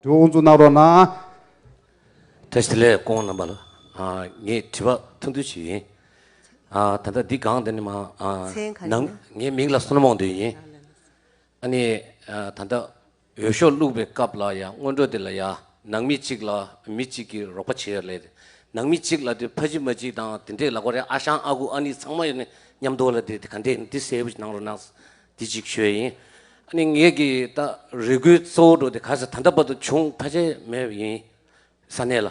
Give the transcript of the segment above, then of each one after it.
དུ་འོང་ཚུལ་གནང་རོགས་གནང། ད་ཞི་ལས་སྐོང་རྣམ་པ་ལ་ངས་དྲི་བ་ཐུང་ཐུང་ཞིག་ཡིན། ད་ལྟ་འདི་གང་དེ་ནི་མ་གནང། ངའི་མིང་ལ་སོར་མོང་འདོན་ཡིན། ཨ་ནི་ད་ལྟ་འོས་ཤོག་བླུགས་པའི་སྐབས་ལ་ཡང་སྔོན་འགྲོ་དེ་ལ་ཡང་ནང་མི་གཅིག་ལ་མི་གཅིག་གིས་རོགས་པ་བྱེད་ལས། ནང་མི་གཅིག་ལ་དེ་ཕ་གཅིག་མ་གཅིག་དང་དེ་འདྲས་ལ་གོ་རེ་ཨ་ཞང་ཨ་ཁུ་ཨ་ནི་ཚང་མ་ཡོད་ནི་མཉམ་འདུག་ལ་དེ་ག་འདྲས་ནི་དེ་གསལ་པོ་ཞིག་གནང་རོགས་གནང། འདི་ཅིག་ཤོས་ཡིན། ནི་ངེད་ཀྱི་ད་རེ་སྒུག་གཙོ་བོ་འགྲོ་དེ་ག་ས་ད་ལྟ་བར་དུ་བྱུང་ཐ་ཆད་མེད་པ་ཡིན། ས་གནས་ལ།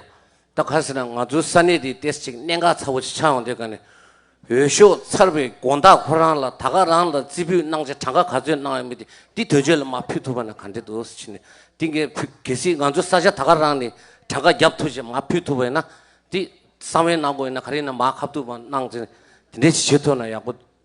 ད་ག་ས་ན་ང་ཚོའི་ས་གནས་དེའི་ཏེས་ཅིག་གནད་འགག་ཚ་བོ་ཞིག་ཆགས་ཡོང་དེ་ག་ནས། འོས་ཤོག་ཚར་བའི་དགོན་བདག་ཁོ་རང་ལ་ད་ག་རང་ལ་རྩིས་འབུལ་གནང་ཆ་གྲངས་ཀ་ག་ཚོད་གནང་ཡོད་མེད་དེ་འདི་དོན་གཅོད་ལ་མ་ཕུལ་ཐུབ་པ་ན་ག་འདྲེ་འདུག་ཟེར་ནས་འདི་འགས་ཕུལ་གལ་སྲིད་ང་ཚོའི་ས་ཆ་ད་ག་རང་ནས་གྲངས་ཀ་བརྒྱབ་ཐུབ་ཞེས་མ་ཕུལ་ཐུབ་པ་ཡིན་ན་དེ་གསང་བའི་གནང་སྒོ་ཡིན་ན་ག་རེ་ཡིན་ན་མ་ཁ་བསྡུར་བ་གནང་ཚེ་དེ་འདྲའི་བྱེད་ཆོད་ཐུབ་ན་ཡག་པོ་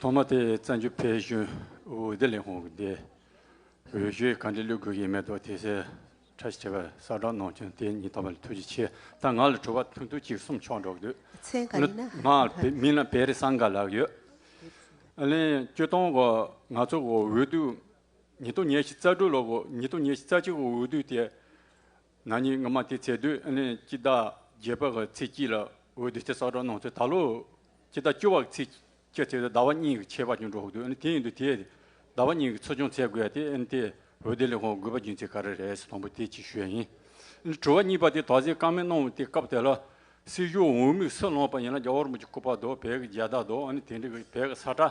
ཐོག་མ་དེ་བཙན་བྱོལ་བོད་གཞུང་འོས་བསྡུ་ལས་ཁུངས་ཀྱི་འོས་གཞིའི་གང་དྲིས་བླུག་དགོས་ཀྱི་མེད་དོ་དེ་ཚེ་ཁྲ་ཞེས་པར་གསར་བསྒྲགས་གནང་བྱུང་དེ་ཉིད་ཐོག་མ་ལ་ཐུགས་རྗེ་ཆེ་ད་ང་ལ་དྲི་བ་ཐུང་ཐུང་གཅིག་གསུམ་ཆོག་འགྲོ་གི་འདུག་སྔགས་མིང་ལ་བེ་རི་སངས་དགའ་ལགས་ཡོད་ཨ་ལན་སྐྱོ་སྟོང་གོ་ང་ཚོ་འོས་བསྡུ་ཉིས་སྟོང་ཉེར་བཞི་རྩ་དྲུག་ལོ་གོ་ཉིས་སྟོང་ཉེར་བཞི་རྩ་གཅིག་འོས་བསྡུ་དེ་ན་ནིང་སྔ་མ་དེ་ཚེ་དུས་ཨ་ནེ་སྐྱིད་བདག་རྒྱལ་པོ་གི་ཚེ་སྐྱིད་ལ་འོས་བསྡུ་ཆེད་གསག་སྒྲོག་གནང་ཚེ་ད་ལོ་སྐྱིད་བདག་བཅུ་བ་གི་ཚེ་སྐྱིད་ཚེ་དུས་ཟླ་བ་གཉིས་ཀྱི་ཆད་པ་ཅུང་འགྲོ་འདུག་དེ་ཡིན་དུས་དེས་ཟླ་བ་གཉིས་ཀྱི་ཚུལ་བྱུང་ཚད་དགོས་དེ་ཨ་ནེ་དེས་འོས་བསྡུ་ལས་ཁུངས་དགོས་པ་རྒྱུན་ཚེ་ག་རེ་རེད་དང་པོ་དེ་ཅིག་ཤོས་ཡིན། ཨ་ནེ་དྲུག་བ་གཉིས་པ་དེ་དོགས་ཟས་བཀག་མེད་གནང་བ་དེ་སྐབས་དེ་ལ་སྲིད་གཞུང་འོས་མིག་སུ་ལངས་པ་ཡིན་ན་རྒྱ་ཧོར་མོ་ཀྱི་སྐུ་པར་དོ་བལ་གྱི་རྒྱལ་བདག་དོ་ཨ་ནེ་དེ་འདྲ་གི་བལ་གྱི་ས་ཁྲ་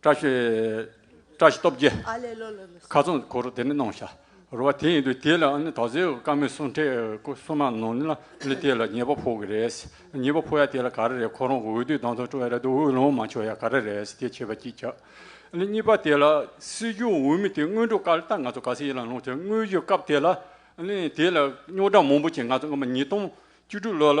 བཀྲ་ཤིས། བཀྲ་ཤིས་སྟོབས་རྒྱལ། ཁ་ཚོན་གོ་རུ་དེ་ནས་གནང་བྱ། རུ་བ་དེ་ཡིན་དུས་དེ་ལ་ནི་དག་ཟེའུ་དཀར་མོའི་སྲུང་ཁྲའི་སྐུ་གསུམ་མ་ནོར་ནི་ལ་ལི་དེ་ལ་ཉེས་པ་ཕོག་གི་རེད། ཉེས་པ་ཕོག་ཡ་དེ་ལ་ག་རེ་རེད་ཁོ་རང་གི་འོས་བསྡུའི་གདང་ཐོག་སྤྲོ་ཡ་རེད་དུ་འོས་ལོངས་མ་ཆོག་ཡ་ག་རེ་རེད་དེ་བྱས་པ་གཅིག་བྱ། ནི་གཉིས་པ་དེ་ལ་སྲིད་སྐྱོང་འོས་མི་དེ་དངོས་གྲུབ་དཀར་རྟགས་ང་ཚོ་ག་ས་ཡིན་ལ་ལོངས་ཆོག་དངོས་གཞི་སྐབས་དེ་ལ་ནི་དེ་ལ་རྙོག་དྲ་མང་པོ་བྱས་ང་ཚོ་སྔོན་མ་ཉིས་སྟོང་བཅུ་དྲུག་ལོ་ལ་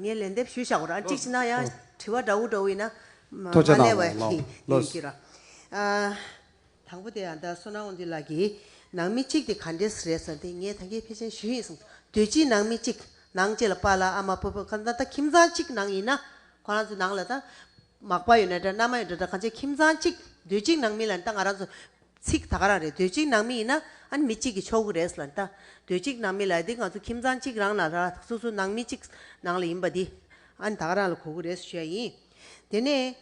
ངས་ལན་འདེབས་ཞུ་བྱ་བར་ཅིག་ཅིག་ན་ཡང་དྲི་བ་འདྲ་བོ་འདྲ་བོ་ཡིན་ན་མ་ཐོ་ཆ་ལས་དང་བའི་ལོ་ཡིན་གྱི་ར། དང་པོ་དེ་ཡང་ད་སོ་ནའོ་འདི་ལགས་ཀྱིས་ནང་མི་གཅིག་དེ་ག་འདྲས་རེད་ཟེར་དེ་ངས་ད་གའི་ཕལ་ཆེན་ཞུས་ཡིན་གསུངས་སོ་དུས་གཅིག་ནང་མི་གཅིག་ནང་བཅས་ལ་པ་ལ་ཨ་མ་པོ་པོ་གང་ད་ད་ཁྱིམ་ཚང་གཅིག་ནང་ཡིན་ན་ཁོ་རང་ཚོའི་ནང་ལ་ད་མག་པ་ཡོད་ན་འདྲ་མནའ་མ་ཡོད་འདྲ་ད་གང་ཆ་ཁྱིམ་ཚང་གཅིག་དུས་གཅིག་ནང་མི་ལ་ད་ང་རང་ཚོ། ཚིག་ད་ག་རང་རེད་དུས་གཅིག་ནང་མི་ཡིན་ན་ཨཱ་མི་གཅིག་གི་ཆོག་གི་རེད་ཟེར་ལ་ད་དུས་གཅིག་ནང་མི་ལ་དེ་ང་ཚོ་ཁྱིམ་ཚང་གཅིག་རང་ན་ལ་སོ་སོ་ནང་མི་གཅིག་ནང་ལ་ཡིན་པ་དེ་ཨཱ་ད་ག་རང་ལ་གོ་གི་རེད་ཟེར་བཤད་ཡིན། དེ་ནས་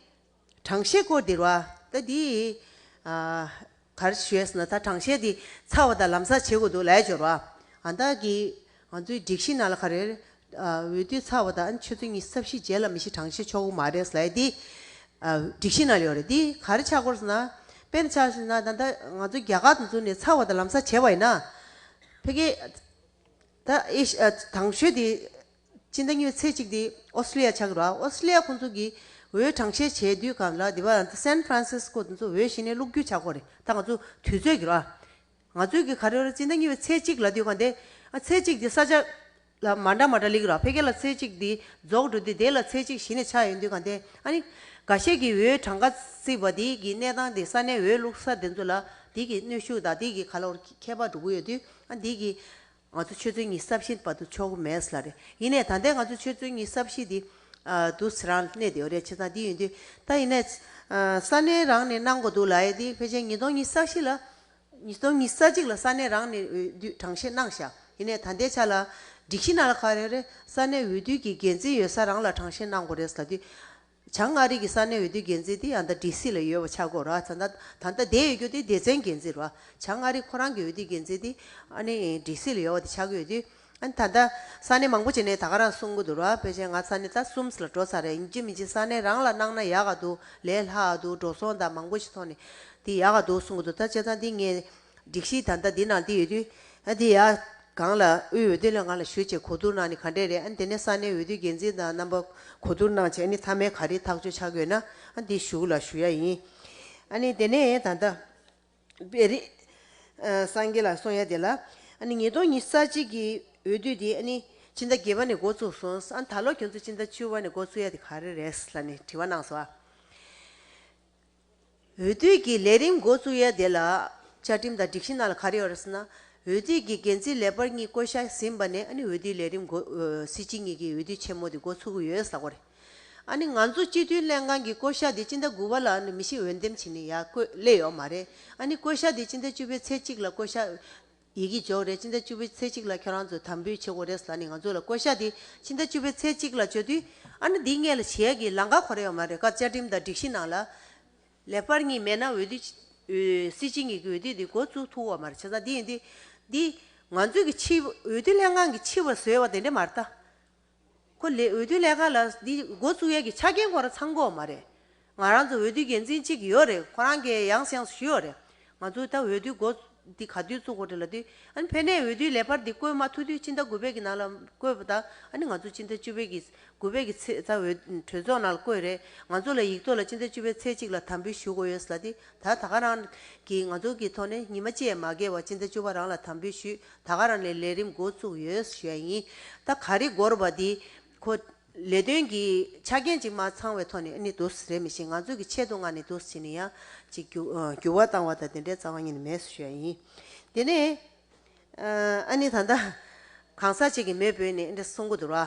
དྲང་བཤད་སྐོར་དེར་བ་ད་དེ་ཨཱ་ག་རེ་ཞུས་ཟེར་ན་ད་དྲང་བཤད་དེ་ཚ་བ་ད་ལམ་ས་བྱེད་དགོས་འདུག་ལས་སྦྱོར་བ་ཨཱ་ད་གི་ང་ཚོའི་སྒྲིག་གཞི་ནང་ལ་ཁ་རེར། འོས་བསྡུ་ཚར་བ་དང་ཆོས་ཚུལ་གཉིས་གསབ་གཞི་རྗེས་ལ་མི་ཤི་གྲངས་ཤི་ཆོག་གི་མ་རེད་ཟེར་ལ། འདི་སྒྲིག་གཞི་ནང་ལ་ཡོད་རེད། འདི་ག་རེ་ཆགས་སྐོར་ཟེར་ན། དཔེར་ན་ཆགས་ཟེར་ན་ད་ལྟ་ང་ཚོ་རྒྱ་གར་དུ་འཛུལ་ནས་ཚར་བ་དང་ལམ་སང་བྱས་བ་ཡིན་ན། ཕལ་སྐད། ད་ཨེ་ཤི་ཨ། དང་ཤོས་དེ། ཕྱི་ཟླ་གཉིས་ཚེས་གཅིག་དེ་ཨོ་སི་ཀྲི་ཡ་ཆགས་ཀྱི་རོགས། ཨོ་སི་ཀྲི་ཡ་ཁོང་ཚོ་གི་འོས་གྲངས་བཤེར་བྱས་དུས་ག་ལ་དེ་བ། ད་སན་ཧྥ་རན་སི་སི་ཀོ་དེ་ཚོ་འོས་ཤི་ནས་བླུགས་རྒྱུ་ཆགས་སྐོར་རེད། ད་ང་ཚོ་དུས་ཚོད་ཀྱི་རོགས། ང་ཚོས་གི་ག་རེ་རེ་ཅི་འདྲ་ཉོས་པའི་ཚེ་གཅིག་ལ་དུས་གང་དེ། ཚེ་གཅིག་དེ་ས་ཆ། ལ་མ་འདྲ་མ་འདྲ་ལེགས་ར་ཕེ་གེ་ལ་ཚེ་གཅིག་དེ་རྫོགས་འགྲོ་དུས་དེ་ལ་ཚེ་གཅིག་གཞི་ནས་ཆགས་ཡོད་དུས་གང་དེ། ཨ་ནི། འགའ་ཤས་ཀྱི་འོའི་གྲངས་ཀ་བརྩིས་པ་དེ་གི་གནས་སྟངས་དེ་ས་གནས་འོའི་ལུགས་ས་དེ་ཚོ་ལ་དེ་གི་གནོད་ཤུགས་དང་དེ་གི་ག་ལོར་ཁྱད་པར་འགྲོ་གི་ཡོད་དུས་ཨ་དེ་གི། ང་ཚོ་ཆོས་ཚུལ་གཉིས་ཟབ་ཞི་འདུག་པ་འདུག་ཆོག་གི་མེད་ས་ལ་རེད། ཡིན་ནས་ད་ལྟའི་ང་ཚོ་ཆོས་ཚུལ་གཉིས་ཟབ་ཞི་འདི། འདུག་ཟེར་རང་གནས་དེ་རེད་ཆེ་ཚང་འདི་ཡིན་དུས། ད་ཡིན་ནས། ས་གནས་རང་ནས་གནང་དགོས་འདུག་ལ་ཡེ་འདི་ཕལ་ཆེར་ཉིས་སྟོང་གཉིས་ས་གཞི་ལ། ཉིས་སྟོང་གཉིས་ས་གཅིག་ལ་ས་གནས་རང་ནས་འོས་བསྡུ་གྲངས་བཤེར་གནང་ཞག་ཡིན་ནས་ད་ལྟའི་ཆ་ལ། སྒྲིག་གཞི་ནང་ལ་ག་རེ་རེད་ས་གནས་འོས་བསྡུ་གི་འགན་འཛིན་ཡོད་ས་རང་ལ་གྲངས་བཤེར་གནང་དགོས་རེད་ཟ་དུས། བྱང་མངའ་རིས་ཀྱི་ས་གནས་འོས་བསྡུའི་འགན་འཛིན་དེ་ཡང་ད་ཀྲི་སི་ལ་ཡོད་པ་ཆགས་སྒོ་ར་ད་ད་ད་དེ་ཡོད་རྒྱུ་དེ་སྡེ་ཚན་འགན་འཛིན་ར་བྱང་མངའ་རིས་ཁོ་རང་གི་འོས་བསྡུའི་འགན་འཛིན་དེ་ཨ་ནི་ཀྲི་སི་ལ་ཡོད་བ་དེ་ཆགས་ཀྱི་ཡོད་དུས་ཨ་ནི་ད་ད་ས་གནས་མང་པོ་བྱས་ནས་ད་ག་རང་གསུང་གི་འདུག་ར་དཔེ་ཆའི་ང་ས་གནས་ད་གསུམ་ལ་འགྲོ་ཚར་རེད་འཇིག་མི་འཇིག་ས་གནས་རང་ལ་གནང་ན་ཡག་ག་འདུག་ལས་སླ་ག་འདུག་འགྲོ་སོང་ད་མང་པོ་ཞིག་ཐོག་ནས་དེ་ཡག་ག་འདུག་གསུང་གི་འདུག་ད་བྱས་ཙང་དེ་ངས་སྒྲིག་གཞི་ད་ལྟ་འདི་ནང་འདི་ཡོད་དུས། ཨ་དེ་ཡ། གང་ལ། དབུས་འོས་བསྡུ་ལས་ང་ལ་ཞུ་ཆེད་གོ་བསྡུར་གནང་ནི་ག་འདྲས་རེད་ཨ་དེ་ནས་ས་གནས་འོས་བསྡུ་འགན་འཛིན་དང་རྣམ་པ། གོ་བསྡུར་གནང་ཆེད་ཨ་ནི་མཐའ་མའི་ག་རེ་ཐག་གཅོད་བྱ་དགོས་ན་ཨ་འདི་ཞུགས་ལ་ཞུ་ཡ་ཡིན། ཨ་ནི་དེ་ནས་ད་ལྟ། བེ་རི། སངས་རྒྱས་ལ་སོང་ཡ་དེ་ལ། ཨ་ནི་ཉིས་སྟོང་ཉི་ས་གཅིག་གི་འོས་བསྡུ་དེ་ཨ་ནི། ཕྱི་ཟླ་བརྒྱད་པ་ནས་འགོ་ཚུགས་སོང་ཨ་ད་ལོ་ཁྱོད་ཚོ་ཕྱི་ཟླ་བཅུ་བ་ནས་འགོ་ཚུགས་ཡ་དེ་ག་རེ་རེད་ལ་ནི་དྲི་བ་གནང་སོ། འོས་བསྡུ་གྱི་ལས་རིམ་འགོ་བཙུགས་ཡས་དེ་ལ་བཅའ་ཁྲིམས་དང་སྒྲིག་གཞི་ནང་ལ་ག་རེ་ཡོད་རེད་ཟེར་ན། འོས་བསྡུ་གྱི་འགན་འཛིན་ལས་འབར་གཉིས་བསྐོ་བཞག་ཟིན་པ་ནས་ཨ་ནི་འོས་བསྡུའི་ལས་རིམ་འགོ། སྲིད་སྤྱི་གཉིས་ཀྱི་འོས་བསྡུ་ཆེན་མོ་དེ་འགོ་ཚུགས་ཀྱི་ཡོད་ཟེར་གོ་རེད། ཨ་ནི་ང་ཚོ་སྤྱི་འཐུས་ལྷན་ཁང་གི་བསྐོ་བཞག་དེ་སྤྱི་ཟླ་དགུ་བ་ལ་ཨ་ནི་མི་ཤི་འོས་འདེམས་བྱེད་ནི་ཡག་བཀོད་སླེ་ཡོད་མ་རེད། ཨ་ནི་བསྐོ་བཞག་དེ་སྤྱི་ཟླ་བཅུ་བའི་ཚེས་གཅིག་ལ་བསྐོ་བཞག། ཡི་གེ་འཇོག་རེས་ཕྱི་ཟླ་བཅུ་བའི་ཚེས་གཅིག་ལ་ཁྱོད་རང་ཚོས་དམ་འབུལ་བྱེད་དགོས་རེད་ཟེར་ནས་ང་ཚོ་ལ་བསྐོ་བཞག་དེ་ཕྱི་ཟླ་བཅུ་བའི་ཚེས་གཅིག་ལ་བཅོལ་དུས། ཨ་ན་འདིས་ངེད་ལ་བྱེད་ཡག་གི་ལང་ཀ་གོ་རེ་ཡོད་མ་རེད་ཁ་བཅའ་ཁྲིམས་དང་སྒྲིག་གཞི་ནང་ལ། ལེ་དཔར་གཉིས་མེད་ན་འོས་བསྡུ། སྲིད་སྤྱི་གཉིས་ཀྱི་འོས་བསྡུ་དེ་འགོ་བཙུགས་ཐུབ་བོ་མ་རེད་བྱས་ཙང་འདི་ཡིན་འདི། འདི། ང་ཚོས་ཀྱི་ཕྱི་འོས་བསྡུ་ལྷན་ཁང་གི་ཕྱི་བར་བཟོས་བ་དེ་འདྲས་མ་རེད་ད། ཁོ་ལས་འོས་བསྡུ་ལས་ཁང་ལ་འདི་འགོ་བཙུགས་ཡས་ཀྱི་ཆ་རྐྱེན་ཁོ་རང་ཚང་མགོ་མ་རེད། ང་རང་ཚོ་འོས་བསྡུའི་འགན་འཛིན་གཅིག་ཡོད་རེད་ཁོ་རང་གས་ཡང་སེང་ཞུས་ཡོད་རེད། ང་ཚོའི་ད་འོས་བསྡུའི་འགོ་འདི་ག་དུས་བཙུགས་དགོ་དྲི་ལ་དུས། ཕན་ནས་འོས་བསྡུའི་ལས་འཕར་འདི་བསྐོས་མ་ཐུག་དུས་སྤྱི་ཟླ་དགུ་པད་ཀྱི་ནང་ལ་བསྐོས་པ་དང་ང་ཚོ་སྤྱི་ཟླ་བཅུ་པད་ཀྱི་དགུ་པད་ཀྱི་ཚེས་ད་འོས་གྲོས་ཚོགས་ནང་ལ་བསྐོས་རེད་ང་ཚོ་ལ་ཡིག་ཐོག་ལ་སྤྱི་ཟླ་བཅུ་པད་ཚེས་གཅིག་ལ་དམ་འབུལ་ཞུ་དགོ་ཡོད་ལ་དུས་ད་ད་ག་རང་གིས་ང་ཚོ་གི་ཐོག་ནས་ཉི་མ་བཅས་མ་བརྒལ་བར་སྤྱི་ཟླ་བཅུ་པ་རང་ལ་དམ་འབུལ་ཞུས་ད་ག་རང་ནས་ལས་རིམ་འགོ་བཙུགས་ཡོད་ཞེས་ཡིན་ད་ག་རེ་འགོར་བ་འདི་ཁོ། ལས་དོན་གྱི་ཆ་རྐྱེན་ཅིག་མ་ཚང་བའི་ཐོག་ནས་ནི་དུ་རེ་མི་ཤེས་ང་ཚོས་ཀྱི་ཆེད་དུ་ང་ནི་དུ་བྱེད་ནི་ཡང་ཅིག་འགྱུར་བ་བཏང་བ་དང་དེ་འདྲའི་རྩ་བ་ཉིད་ནི་མེད་ཞེས་ཡིན། དེ་ནས་ཨ་ནི་ད་ད་གང་ཟག་ཅིག་གིས་མེས་པོས་ནི་འདྲ་གསུང་གི་འདུག་ར།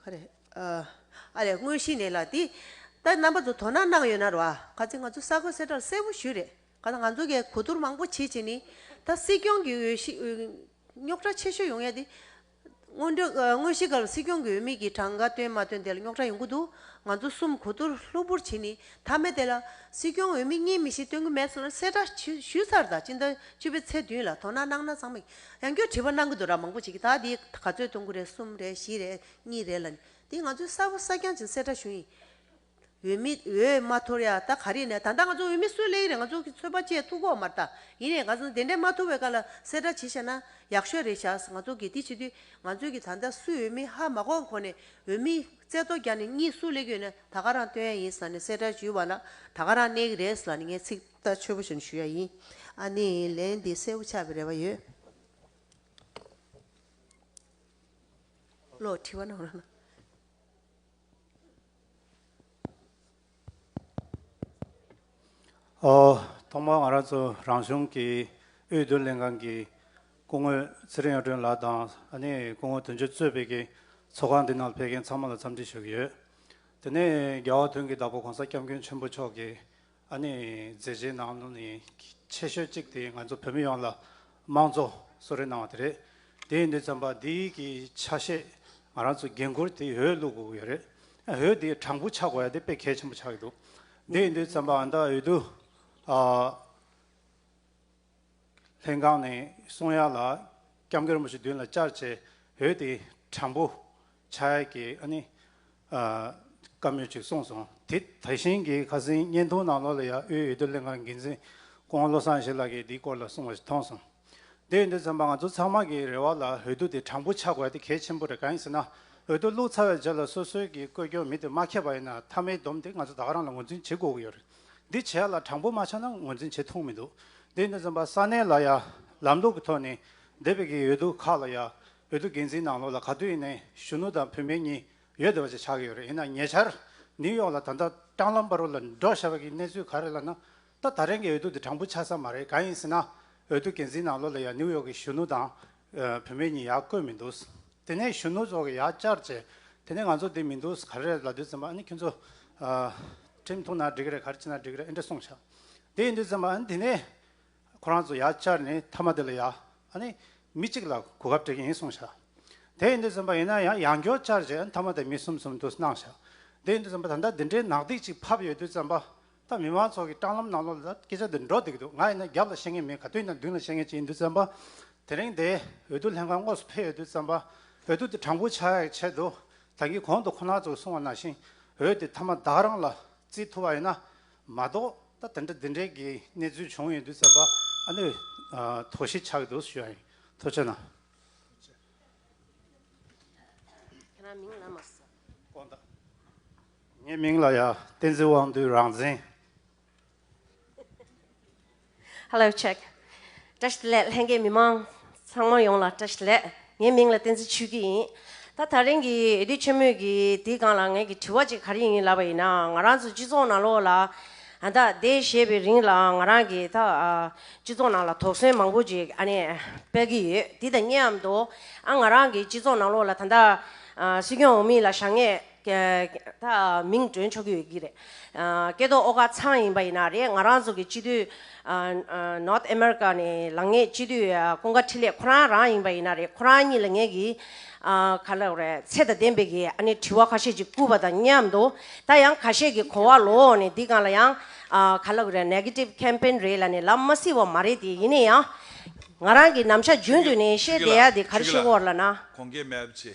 ཁ་རེད། ཨ་རེད་དངོས་གཞི་ནས་ལ་དེ། ད་རྣམ་པ་ཚོ་དོ་སྣང་གནང་ཡོད་ན་རེད་བ། ག་ཚད་ང་ཚོ་ས་གོས་སེར་དྲག་གསལ་བོ་ཞུས་རེད། ག་ད་ང་ཚོ་གས་གོ་བསྡུར་མང་པོ་བྱེད་བྱེད་ནི། ད་སྲིད་སྐྱོང་གི་འོས་གཞི། རྙོག་གྲ་ཆེ་ཤོས་ཡོང་ཡ་དེ། སྔོན་འགྲོ། དངོས་གཞི་ག་ལ་སྲིད་སྐྱོང་གི་འོས་མི་གི་གྲངས་ཀ་བཏོན་མ་བཏོན་དེ་ལ་རྙོག་གྲ་ཡོང་གི་འདུག་ང་ཚོ་གསུམ་གོ་བསྡུར་གློ་བུར་བྱེད་ནི། ཐ་མའི་དེ་ལ། སྲིད་སྐྱོང་འོས་མི་གཉིས་མི་བཞི་བཏོན་གི་མེད་སོང་ན་གསལ་བསྒྲགས་ཞུས་ཚར་ད་སྤྱི་ཟླ་བཅུ་པའི་ཚེས་བདུན་ལ་དོ་སྣང་གནང་ན་བཟང། ཡང་ཁྱོད་བྲིས་པ་གནང་གི་འདུག་ར་མང་པོ་བྱེད་ཀྱི་ད་འདི་ག་ཚོད་གཏོང་གི་རེད་གསུམ་རེད་བཞི་རེད་གཉིས་རེད་ལ་ནི་འདི་ང་ཚོའི་གསར་བུ་གསར་རྐྱང་སྦྱིན་སྲེག་དྲ་ཞུ་ཡིན། འོས་མི་འོས་མ་ཐོར་ཡ་ད་ག་རེད་ནས་ད་ལྟ་ང་ཚོ་འོས་མི་སུ་གླས་ཀྱི་རེད་ང་ཚོ་གི་ཚོད་དཔག་བཅས་ཐུག་གོ་མ་རྟ་ཡིན་རེད་ག་ཚོ་དེ་འདྲས་མ་ཐུག་བའི་ཀ་ལ་སེ་དྲ་བྱེད་ཤ་ན་ཡག་ཤོས་རེད་ཤག་ང་ཚོ་གི་དེ་བྱེད་དུས་ང་ཚོས་གི་ད་ལྟ་སུ་འོས་མི་ཧ་མ་གོ་གོ་ནས་འོས་མི་རྩེ་གཏོ་རྒྱག་ནས་གཉིས་སུ་གླས་ཀྱི་ཡོད་ནས་ད་ག་རང་སྟོན་ཡ་ཡིན་ས་ནས་སེ་དྲ་ཞུས་བ་ལ་ད་ག་རང་གནས་ཀྱི་རེད་ས་ལ་ནི་ངས་ཚིག། ལྟར་ཆོས་པོ་ཞིག་ཞུ་ཡ་ཡིན། ཨ་ནི་ལན་འདི་གསལ་བོ་ཆགས་པའི་རེ་བ་ཡོད། བློ་འཁྲི་བ་ནང་རང། ཐོག་མར་ང་རང་ཚོ་རང་གཞུང་གི་དབུས་བསྡུ་ལེན་ཁང་གི་སྐུ་ངོས་ཚེ་རིང་གཡུང་དྲུང་ལགས་དང་ཨ་ནི་སྐུ་ངོ་དོན་གཅོད་གཙོས་བོད་ཀྱི་ཚོགས་ཁང་འདི་ནང་ཕེབས་མཁན་ཚང་མ་ལ་འཚམས་འདྲི་ཞུ་གི་ཡོད། དེ་ནས་རྒྱལ་བ་དོན་གྱི་བདག་པོ་གོང་ས་སྐྱབས་མགོན་ཆེན་པོ་མཆོག་གིས་ཨ་ནེ་མཛད་རྗེས་ནང་དོན་ནི་ཆེ་ཤོས་གཅིག་དེ་ང་ཚོ་བོད་མི་ཡོངས་ལ་དམངས་གཙོ་གསོལ་རས་གནང་བ་དེ་རེད། དེ་ཡིན་དུས་བརྩམས་པ་འདི་གི་ཆ་ཤས་ང་རང་ཚོའི་འགན་ཁུར་དེ་འོས་བླུག་དགོས་ཀྱི་ཡོད་རེད། འོས་དེ་དྲང་པོ་ཆགས་དགོས་ཡ་དེ་དཔེ་གལ་ཆེན་པོ་ཆགས་ཀྱི་འདུག་དེ་ཡིན་དུས་བརྩམས་པ་འདི་འོས་བསྡུ་ལྷན་ཁང་ནས་གསུང་ཡག་ལ་སྐྱབས་མགོན་རིན་པོ་ཆེ་མདུན་ལ་བཅར་བྱས་འོས་ཏེ་དྲང་པོ་ཕྱག་ཡས་ཀྱི་ཨ་ནི་བཀའ་མོལ་ཅིག་གསུངས་སོང་དེ་ད་བཞིན་གྱི་ཁ་སིང་བརྙན་ཐུང་ནང་ལོགས་ལ་ཡང་དབུས་འོས་བསྡུ་ལྷན་ཁང་གི་འགན་འཛིན་ཀོང་བློ་བཟང་ཞེས་ལགས་ཀྱིས་འདིའི་སྐོར་ལ་གསུངས་བ་ཞིག་མཐོང་སོང། དེ་ཡིན་དུས་བཙན་པ་ང་ཚོ་ཚང་མ་གིས་རེ་བ་ལ་འོས་བསྡུ་དེ་དྲང་པོ་ཆགས་དགོས་དེ་གལ་ཆེན་པོ་རེད་གང་ཡིན་ཟེར་ན་འོས་བསྡུ་བླུགས་ཚར་བའི་རྗེས་ལ་སོ་སོའི་གིས་བཀོད་སྐྱོན་མི་དེ་མ་ཁེབས་པ་ཡིན་ན་མཐའ་མའི་སྡོམ་དེ་ང་ཚོ་དག་རང་ལ་ངོས་འཛིན་བྱེད་དགོས་ཀྱི་ཡོད་རེད། འདི་བྱས་ལ་དྲང་པོ་མ་ཆགས་ན་ངོས་འཛིན་བྱེད་ཐུག་མི་འདུག་འདི་ནི་རྩོམ་པ་ས་གནས་ལ་ཡ་ལམ་ལུགས་ཀྱི་ཐོག་ནས་འདས་པའི་གི་འོས་བསྡུ་ཁག་ལ་ཡ་འོས་བསྡུ་འགན་འཛིན་གནང་ལོ་ལ་ག་དུས་ཡིན་ནའི་གཞོན་ནུ་དང་བུད་མེད་གཉིས་ཡོད་བསྡད་པ་ཅིག་ཆགས་ཀྱི་ཡོད་རེད་ཡིན་ན་ཉེ་ཆར་ནིའུ་ཡོག་ལ་ད་ལྟ་ཀྲང་ལམ་པར་བོ་ལ་འགྲོ་བཞག་པ་གི་གནས་ཚུལ་ག་རེ་ལ་ན་ད་ད་རིང་གི་འོས་བསྡུ་འདི་དྲང་པོ་ཆགས་ས་མ་རེད་གང་ཡིན་ཟེར་ན་འོས་བསྡུ་འགན་འཛིན་གནང་ལོ་ལ་ཡ་ནིའུ་ཡོག་གི་གཞོན་ནུ་དང་བུད་མེད་གཉིས་ཡར་བསྐོས་མི་འདུག་དེ་ནས་གཞོན་ནུ་ཚོ་གི་ཡར་བསྐྱར་བྱས་དེ་ནས་ང་ཚོ་འདི་མི་འདུག་ག་རེ་རེད་ལ་དུས་ཚོད་མ་ཨ་ནི་ཁྱོད་ཚོ་ཁྲིམས་ཐུང་ན་འགྲིག་གི་རེད་ག་རེ་བྱས་ན་འགྲིག་གི་རེད་ཨེ་འདྲ་གསུངས་བྱ་དེ་ཡིན་དུས་ཚོད་མ་ཨ་ནི་དེ་ནས་ཁོ་རང་ཚོ་ཡར་བསྐྱར་ནས་མཐའ་མ་དེ་ལ་ཡར་ཨ་ནི་མི་གཅིག་ལ་གོ་སྐབས་སྤྲད་ཀྱི་ཡིན་གསུངས་བྱ་དེ་ཡིན་དུས་ཚོད་མ་ཡིན་ན་ཡང་ཡང་སྐྱོར་བསྐྱར་བྱས་ཨ་ནི་མཐའ་མ་དེ་མི་གསུམ་གསུམ་འདུག་གནང་བྱ་དེ་ཡིན་དུས་ཚོད་མ་ད་ལྟ་འདི་འདྲའི་ནག་ཐིག་ཅིག་ཕབ་ཡོད་དུས་ཚོད་མ་ད་མི་མང་ཚོགས་ཀྱི་སྤྲང་ལམ་ནང་ལོགས་ལ་སྐད་ཆ་འདི་འདྲོག་སྡིག་གི་འདུག་ང་ཡིན་ན་རྒྱབ་ལ་བཤད་ངེས་མིན་ག་དུས་ན་མདུན་ལ་བཤད་ངེས་ཅི་ཡིན་དུས་བཙན་པ་དེ་རིང་འདས་འོས་བསྡུ་ལྷན་ཁང་དངོས་སུ་ཕེབས་ཡོད་དུས་བཙན་པ་འོས་བསྡུ་དེ་དྲང་པོ་ཆགས་ཡག་ཆེད་དུ་ད་གི་གོང་དུ་ཁོ་ན་ཚོ་གསུང་བ་ནང་བཞིན་འོས་དེ་ཐ་མ་བདག་རང་ལ་བརྩི་ཐུབ་པ་ཡིན་ན་མ་གཏོགས་ད་དེ་འདྲ་དེ་འདྲའི་གི་གནས་ཚུལ་བྱུང་ཡོད་དུས་བཙན་པ་ཨ་ནུས་དོགས་གཞི་ཆགས་ཀྱི་འདུག་ཞུ་ཡང་ཐུགས་ཆེ་གནང། ཁྱེད་རང་མིང་ལ་མ་ཟེར། དཀོན་ད། ངའི་མིང་ལ་ཡང་བསྟན་འཛིན་དབང་འདུས་རང་བཙན། Hello check བཀྲ་ཤིས་ལེགས་ལྷན་རྒྱས་མི་མང་ཚང་མ་ཡོངས་ལ་བཀྲ་ཤིས་ལེགས་ངའི་མིང་ལ་བསྟན་འཛིན་ཆོས་སྐྱིད་ཡིན་ད་ད་རིང་གི་དུས་ཆེན་མོད་ཀྱི་དེའི་སྒང་ལ་ངས་ཀྱི་དྲི་བ་ཅིག་ག་རེ་ཡིན་ལབ་པ་ཡིན་ན་ང་རང་ཚོ་སྤྱི་ཚོགས་ནང་ལོགས་ལ་ད་ལྟའི་བཞེས་པའི་རིང་ལ་ང་རང་གི་ད་སྤྱི་ཚོགས་ནང་ལ་དོགས་ཟོན་མང་པོ་ཅིག་ཨ་ནས་སྤེལ་གྱི་ཡོད་དེ་ད་ཉེ་འམ་དོ་ཨ་ང་རང་གི་སྤྱི་ཚོགས་ནང་ལོགས་ལ་ད་ད་སྲིད་སྐྱོང་འོག་མིན་ལ་བཞག་ངས་མིང་བསྒྲོན་ཆོག་གི་ཡོད་ཀྱི་རེད། སྐད་དོག་ཨོ་ཁ་ཚང་ཡིན་པ་ཡིན་ན་རེད་ང་རང་ཚོ་གི་སྤྱི་འཐུས། North America། ནས་ལངས་ངེས་སྤྱི་འཐུས་ཀུན་དགའ་འཕྲིན་ལས་ཁོ་རང་རང་ཡིན་པ་ཡིན་ན་རེད་ཁོ་རང་གཉིས་ལ་ངས་ཀྱི། ག་ལེར་རེད་ཚད་དང་ལྡན་པའི་གི་ཨ་ནི་དྲི་བ་ཁ་ཤས་ཅིག་བསྐུར་བ་དང་མཉམ་དུ། ད་ཡང་ག་ཤས་ཀྱི་གོ་བ་ལོག་འོག་ནས་འདི་གང་ལ་ཡང། ག་ལེར་རེད Negative Campaign རེད་ལ་ནི་ལབ་མ་སྲིད་བ་མ་རེད་དེ་ཡིན་ན་ཡང། ང་རང་གི་ནམ་ཞར་རྒྱུན་དུ་ནས་བཤད་བསྡད་ཡ་དེ་གར་ཤེས་བོར་ལ་ན། གོང་གི་མེད་བྱས་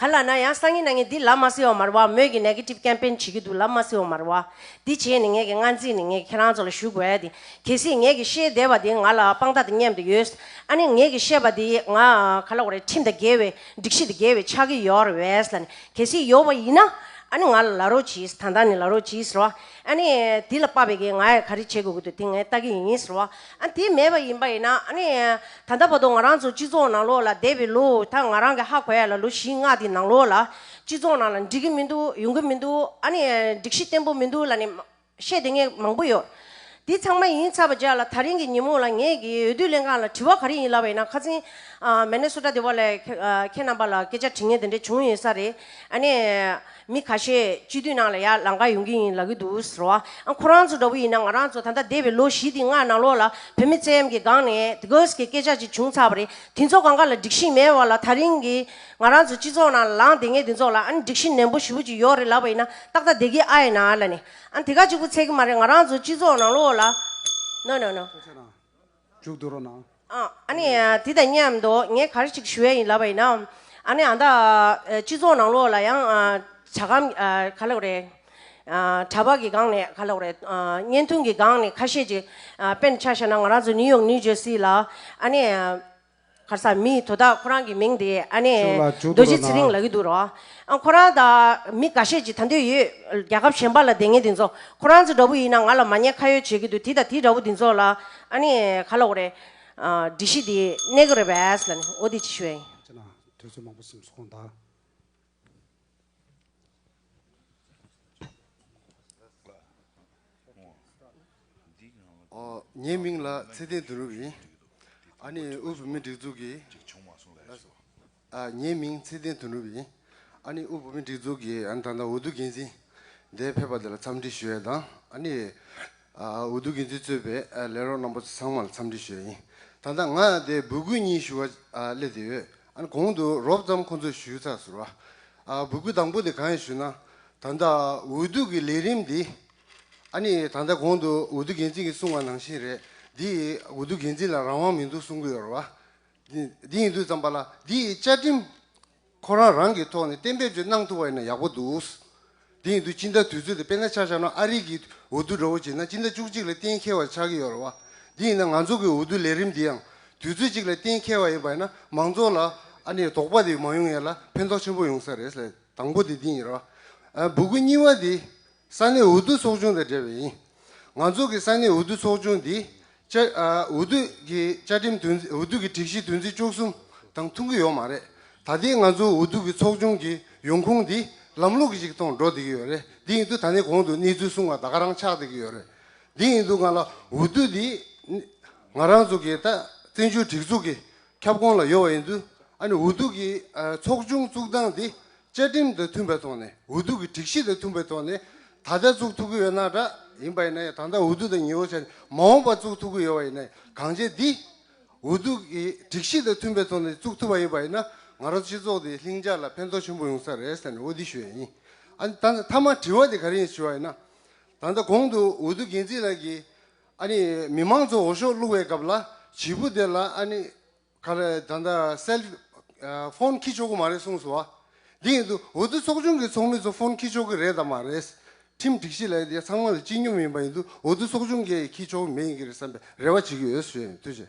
ག་ལ་ན་ཡང་སང་ཉིན་ན་ངས་འདི་ལབ་མ་སི་བ་མར་བ་མོད་ཀྱི Negative Campaign བྱེད་ཀྱི་འདུག་ལབ་མ་སི་བ་མར་བ། འདི་བྱས་ནས་ངས་ཀྱི་སྔ་འཛིན་ནས་ངས་ཀྱི་ཁྱེད་རང་ཚོ་ལ་ཞུ་དགོས་ཏེ། གལ་སྲིད་ངས་ཀྱི་ཤེས་བདེ་བ་དེ་ང་ལ་དཔང་རྟགས་དེ་སྙེམས་དུ་ཡོད། ཨ་ནི་ངས་ཀྱི་བཤད་པ་དེ་ང་ག་ལ་བ་རེད་ཁྲིམས་དང་འགལ་བའི་སྒྲིག་གཞི་དང་འགལ་བའི་ཆག་གི་ཡོད་རེད་བས་ལ་ནི་གལ་སྲིད་ཡོད་བ་ཡིན་ན། ཨ་ནི་ང་ལ་ལ་རོགས་གྱིས་ད་ལྟ་ནས་ལ་རོགས་གྱིས་རོ། ཨ་ནི་དེ་ལ་དཔག་པའི་གི་ང་ག་རེ་བྱེད་དགོས་ཀྱི་འདུག་དེ་ངས་ལྟ་གི་ཡིན་རོ། ཨ་དེ་མེད་པ་ཡིན་པ་ཡིན་ན་ཨ་ནི་ད་ལྟ་བར་དུ་ང་རང་ཚོ་སྤྱི་ཚོགས་ནང་ལོགས་ལ་བསྡད་པའི་ལོ་ད་ང་རང་གི་ཧ་གོ་ཡ་ལ་ལོ་བཞི་ལྔ་དེ་ནང་ལོགས་ལ་སྤྱི་ཚོགས་ནང་ལ་འགྲིག་གི་མི་འདུག་ཡོང་གི་མི་འདུག་ཨ་ནི་སྒྲིག་གཞི་བརྟན་པོ་མི་འདུག་ལ་ནི་བཤད་དེ་ངས་མང་པོ་ཡོད། དེ་ཚང་མ་ཡིན་ཚར་བ་བརྒྱ་ལ་ད་རིང་གི་ཉིན་མོ་ལ་ངས་གི་འོས་བསྡུ་ལྷན་ཁང་ལ་དྲི་བ་ག་རེ་ཡིན་ལབ་པ་ཡིན་ན་ཁ་ཚིན་མེ་ནེ་སོ་ཏྲ་དེ་བ་ལས་ཁྱེད་རྣམ་པ་ལ་སྐད་ཆ་དྲི་ངེས་དེ་འདྲས་བྱུང་ཡོད་ས་རེད་ཨ་ནི། མི་ཁ་ཤས་སྤྱི་འཐུས་ནང་ལ་ཡར་ལངས་ཀ་ཡོང་གི་ཡིན་ལབ་ཀྱི་འདུག་ཟེར་བ་ཨང་ཁོ་རང་ཚོ་འདྲ་བོ་ཡིན་ན་ང་རང་ཚོ་ད་ལྟ་འདས་པའི་ལོ་བཞི་འདི་ལྔ་ནང་ལོགས་ལ་བོད་མི་བཙན་གཡེམ་གྱི་སྒང་ནས་དེ་གོས་ཀྱི་སྐད་ཆ་ཅིག་བྱུང་ཚར་བ་རེད་དེ་ཚོ་གང་ག་ལ་འགྲིག་ཤིང་མེད་བ་ལ་ཐག་རིང་གི་ང་རང་ཚོ་སྤྱི་ཚོགས་ནང་ལ་ལངས་བསྡད་ངེས་དེ་ཚོ་ལ་ཨང་འགྲིག་ཤིང་ནན་པོ་ཞུ་བོ་ཅིག་ཡོག་རེད་ལབ་པ་ཡིན་ན་ཏག་ཏག་བསྡད་ཀྱི་ཨ་ཡེ་ན་ལ་ནས་ཨང་དེ་ག་ཅིག་པོ་ཚད་ཀྱི་མ་རེད་ང་རང་ཚོ་སྤྱི་ཚོགས་ནང་ལོགས་ལ་ནོ་ནོ་ནོ། འཇུག་དུ་རོ་ན། ཨ་ནི། དེ་དང་མཉམ་དུ་ངས་གར་ཞིག་ཞུ་ཡ་ཡིན་ལབ་པ་ཡིན་ན། ཨ་ནི་ཨ་ད། སྤྱི་ཚོགས་ནང་ལོགས་ལ་ཡང། བྱ་གམ། ག་ལོག་རེད། གྲྭ་པ་གི་སྒང་ནས་ག་ལོག་རེད། བརྙན་ཐུང་གི་སྒང་ནས་ཁ་ཤས་ཅིག། དཔེར་ན་ཆ་བཞག་ན་ང་རང་ཚོ་ནིའུ་ཡོག་ནིའུ་ཇོ་སི་ལ། ཨ་ནི། ཁར་སར་མི་དེ་དག་ཁོ་རང་གི་མིང་དེ་ཨ་ནེ་ཤོག་ལ་བཅུག་རྡོ་རྗེ་ཚེ་རིང་ལགས་ཀྱི་འདུག་རོགས། ཁོ་རང་དང་མི་འགའ་ཤས་ཀྱིས་ད་འདོད་ཡོད་རྒྱལ་ཁབ་གཞན་པ་ལ་བསྡད་ངེས་དེ་ཚོ་ཁོ་རང་ཚོ་འདྲ་བོ་ཡིན་ན་ང་ལ་མ་ཉེས་ཁ་ཡོད་བྱེད་ཀྱི་འདུག་དེ་དང་དེ་འདྲ་བོ་དེ་ཚོ་ལ་ཨ་ནེ་ག་ལོག་རེད། སྒྲིག་གཞི་དེ་གནས་གི་རེད་བས། ཨོ་དེ་ཅི་ཞུ་ཨེ། ཁྱེད་རང་དུས་ཚོད་མང་པོ་སིམ་སོང་ད། ངའི་མིང་ལ་ཚེ་བརྟན་དོན་གྲུབ་ཡིན། ཨ་ནེ་དབུས་བོད་མིའི་སྒྲིག་འཛུགས་ཀྱི། ངའི་མིང་ཚེ་བརྟན་དོན་གྲུབ་ཡིན། ཨ་ནེ་དབུས་བོད་མིའི་སྒྲིག་འཛུགས་ཀྱི་ད་ལྟ་འོས་བསྡུ་འགན་འཛིན། འདས་ཕེབས་པ་དེ་ལ་འཚམས་འདྲི་ཞུ་ཡས་དང་ཨ་ནེ། འོས་བསྡུ་འགན་འཛིན་གཙོས་པའི་ལས་རོགས་རྣམ་པ་ཚང་མར་འཚམས་འདྲི་ཞུས་ཡིན། ད་ལྟ་ང་དེ་འབོད་སྐུལ་གཉིས་ཞུ་བ་སླེབས་དེ་ཡོད། ཨ་ན་གོང་དུ་རོབ་ཙམ་ཁོང་ཚོས་ཞུས་ཚགས་ཟུར་བ། འབོད་སྐུལ་དང་པོ་དེ་གང་ཡིན་ཞུས་ན། ད་ལྟ་འོས་བསྡུ་གི་ལས་རིམ་འདི། ཨ་ནི་ད་ལྟ་གོང་དུ་འོས་བསྡུ་འགན་འཛིན་གྱིས་གསུང་བ་ནང་བཞིན་རེད། འདི་འོས་བསྡུ་འགན་འཛིན་ལ་རང་དབང་མི་འདུག་གསུང་གི་ཡོད་རེད་བ། འདི་ཡིན་དུས་ཙམ་པ་ལ་འདིའི་བཅའ་ཁྲིམས། ཁོ་རང་རང་གི་ཐོག་ནས་གཏན་འབེབས་ཅིག་གནང་ཐུབ་པ་ཡིན་ན་ཡག་པོ་འདུག། དེ་ཡིན་དུས་སྤྱི་ཟླ་དུས་ཚོད་དེ་དཔེར་ན་ཆ་བཞག་ན་ཨ་རིག་གིས་འོས་བསྡུ་འདྲ་བོ་བྱེད་ན་སྤྱི་ཟླ་བཅུ་གཅིག་ལ་གཏན་འཁེལ་བ་ཆགས་ཀྱི་ཡོད་རེད་བ། དེ་ཡིན་ན་ང་ཚོ་གི་འོས་བསྡུ་ལས་རིམ་འདི་ཡང་དུས་ཚོད་གཅིག་ལ་གཏན་འཁེལ་བ་ཡིན་པ་ཡིན་ན་མང་ཚོགས་ལ་ཨ་ནི་དོགས་པ་དེ་མ་ཡོང་ཡས་ལ་ཕན་ཐོགས་ཆེན་པོ་ཡོང་ས་རེད། དང་པོ་དེ་དེ་ཡིན་རེད་བ། འབུ་གུ་གཉིས་བ་དེ་ས་གནས་འོས་བསྡུ་ཚོགས་ཆུང་དང་འབྲེལ་བ་ཡིན། ང་ཚོ་གི་ས་གནས་འོས་བསྡུ་ཚོགས་ཆུང་འདི། བཅའ་འོས་བསྡུ་གི་བཅའ་ཁྲིམས་དོན་འོས་བསྡུ་གི་སྒྲིག་གཞི་དོན་ཚན་བཅུ་གསུམ་དང་མཐུན་གྱི་ཡོད་མ་རེད། ད་ལྟའི་ང་ཚོའི་འོས་བསྡུ་གི་ཚོགས་ཆུང་གི་ཡོང་ཁུངས་འདི་ལམ་ལུགས་ཤིག་ཐོག་འགྲོ་བསྡད་ཀྱི་ཡོད་རེད། འདི་ཡིན་དུས་ད་ནས་གོང་དུ་གནས་ཚུལ་གསུངས་བ་དག་ག་རང་ཆགས་བསྡད་ཀྱི་ཡོད་རེད། འདི་ཡིན་དུས་ང་ལ་འོས་བསྡུ་འདི། ང་རང་ཚོ་གི་ད་བཙན་བྱོལ་སྒྲིག་འཛུགས་ཀྱི་ཁྱབ་ཁོངས་ལ་ཡོད་པ་ཡིན་ཚུལ་ཨ་ནི་འུ་ཐུག་གིས་ཚོགས་ཆུང་བཙུགས་སྟངས་དེ་བཅའ་ཁྲིམས་དང་མཐུན་པའི་ཐོག་ནས་འུ་ཐུག་གི་སྒྲིག་གཞི་དང་མཐུན་པའི་ཐོག་ནས་ད་ལྟ་བཙུགས་ཐུབ་ཀྱི་ཡོད་ན་འདྲ་ཡིན་པ་ཡིན་ན་ཡང་ད་ལྟ་འུ་ཐུག་དང་ཉི་འོད་ཆད་མ་འོངས་པར་བཙུགས་ཐུབ་ཀྱི་ཡོད་པ་ཡིན་ན་ཡང་གང་བྱས་འདི་འུ་ཐུག་གི་སྒྲིག་གཞི་དང་མཐུན་པའི་ཐོག་ནས་བཙུགས་ཐུབ་པ་ཡིན་པ་ཡིན་ན་ང་རང་སྤྱི་ཚོགས་དེ་ལྷིང་འཇགས་ལ་ཕན་ཐོགས་ཆེན་པོ་ཡོང་ས་རེད་ཟེར་ནས་འོ་དེ་ཞུ་ཡ་ཡིན། ཨ་ནི་ད་ནི་མཐའ་མ་དྲི་བ་དེ་ག་རེ་ཡིན་ཞུ་བ་ཡིན་ན། ད་ལྟ་གོང་དུ་འུ་ཐུག་འགན་འཛིན་ལགས་ཀྱིས་ཨ་ནི་མི་དམངས་ཚོ་འོ་ཞོ་བླུག་བའི་སྐབས་ལ་བྱིས་པོ་དེ་ལ་ཨ་ནི་ག་རེ་ད་ལྟ་སེལ་ཧྥོན་ཁྱི་ཆོག་གི་མ་རེད་གསུངས་སོ། དེ་ཡིན་དུ་འོ་དོ་ཚོགས་ཆུང་གི་ཚོགས་མི་ཚོ་ཧྥོན་ཁྱི་ཆོག་གི་རེད་དམ་མ་རེད། ཁྲིམས་སྒྲིག་གཞི་ལ་ཡིན་དེ་ཚང་མ་ལ་སྤྱི་སྙོམས་ཡིན་པ་ཡིན་དུ་འོ་དོ་ཚོགས་ཆུང་གི་ཁྱི་ཆོག་མེད་ཡིན་གྱི་རེད་བསམ་པའི་རེ་བ་བྱེད་ཀྱི་ཡོད་ཟེར་ཡོད་དུས་ཆེ།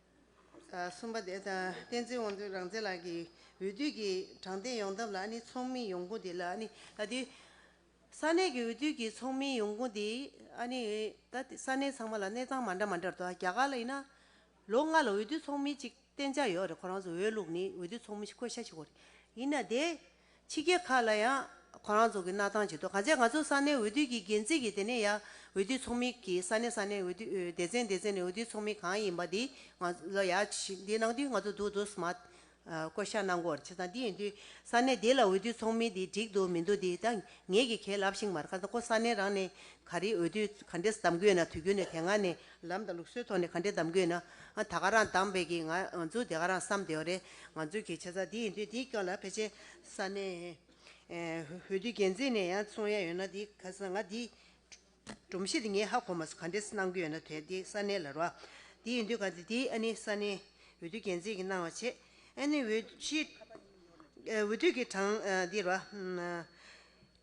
གསུམ་པ། བསྟན་འཛིན་དབང་འདུས་རང་བཙན་ལགས་ཀྱི་འོས་བསྡུ་གྱི་དྲང་བདེན་ཡོང་ཐབས་ལ་ནི་ཚོགས་མིའི་ཡོང་ཁུངས་དེ་ལ་ནི་ད་ལྟའི་ས་གནས་ཀྱི་འོས་བསྡུ་གྱི་ཚོགས་མིའི་ཡོང་ཁུངས་དེ་ཨ་ནི་ད་ལྟའི་ས་གནས་ཚང་མ་ལ་གནས་སྟངས་མ་འདྲ་མ་འདྲར་འདུག་རྒྱ་གར་ལ་ཡིན་ན་ལོ་ལྔ་ལ་འོས་བསྡུ་ཚོགས་མི་གཅིག་གཏན་འཇགས་ཡོད་རེད་ཁོ་རང་ཚོ་འོས་བླུགས་ནི་འོས་བསྡུ་ཚོགས་མི་ཞིག་བསྐོས་བཞག་བྱེད་དགོས་རེད་ཡིན་ན་དེ་ཕྱི་རྒྱལ་ཁག་ལ་ཡང་ཁོ་རང་ཚོ་གི་གནའ་ཐང་བྱེད་དོ་ག་ཚད་ང་ཚོ་ས་གནས་འོས་བསྡུ་གི་འགན་འཛིན་གི་དེ་ནས་ཡ་འོས་བསྡུ་ཚོགས་མི་གི་ས་གནས་ས་གནས་འོས་བསྡུ་སྡེ་ཚན་སྡེ་ཚན་ནས་འོས་བསྡུ་ཚོགས་མི་གང་ཡིན་པ་དེ་ང་ལ་ཡ་འདི་ནང་དུས་ང་ཚོ་འདུག་འདུག་སྨྲ། བསྐོ་བཞག་གནང་དགོས་ཆེ་ད་འདི་ཡིན་དུས་ས་གནས་དེ་ལ་འོས་བསྡུ་ཚོགས་མི་དེ་འགྲིག་འདུག་མི་འདུག་དེ་ད་ངེད་ཀྱི་ཁས་ལབ་ཤིང་མར་ཁ་ད་ཁོ་ས་གནས་རང་ནས་ག་རེ་འོས་བསྡུ་ག་འདྲེས་གདམ་དགོས་ན་དུས་རྒྱུན་ནས་དེ་སྔ་ནས་ལམ་དང་ལུགས་སྲོལ་ཐོག་ནས་ག་འདྲའི་གདམ་དགོས་ན། ད་ག་རང་གདམ་བས་ཀྱི་ང་ཚོ་དེ་ག་རང་བསམ་བདེ་བ་རེད། ང་ཚོའི་གི་བྱས་ཙང་འདི་ཡིན་དུས་འདིའི་སྐྱོན་ལ་ཕལ་ཆེར་ས་གནས་འོས་བསྡུ་འགན་འཛིན་ནས་ཡང་གསུང་ཡས་ཡོད་ན་འདི་ག་ས་ང་འདི་སྒྲོམ་གཞི་འདི་ངས་ཧ་གོ་མ་སོང་ག་འདྲའི་གནང་རྒྱུ་ཡོད་ན་དེ་འདི་ས་གནས་ལ་རོ། འདི་ཡིན་དུས་ག་འདི་འདི་ཨ་ནི་ས་གནས་འོས་བསྡུ་འགན་འཛིན་གྱི་གནང་བ་བྱེད། ཨ་ནི་འོས་གཞི་འོས་བསྡུ་གྱི་གྲངས་འདི་རོ།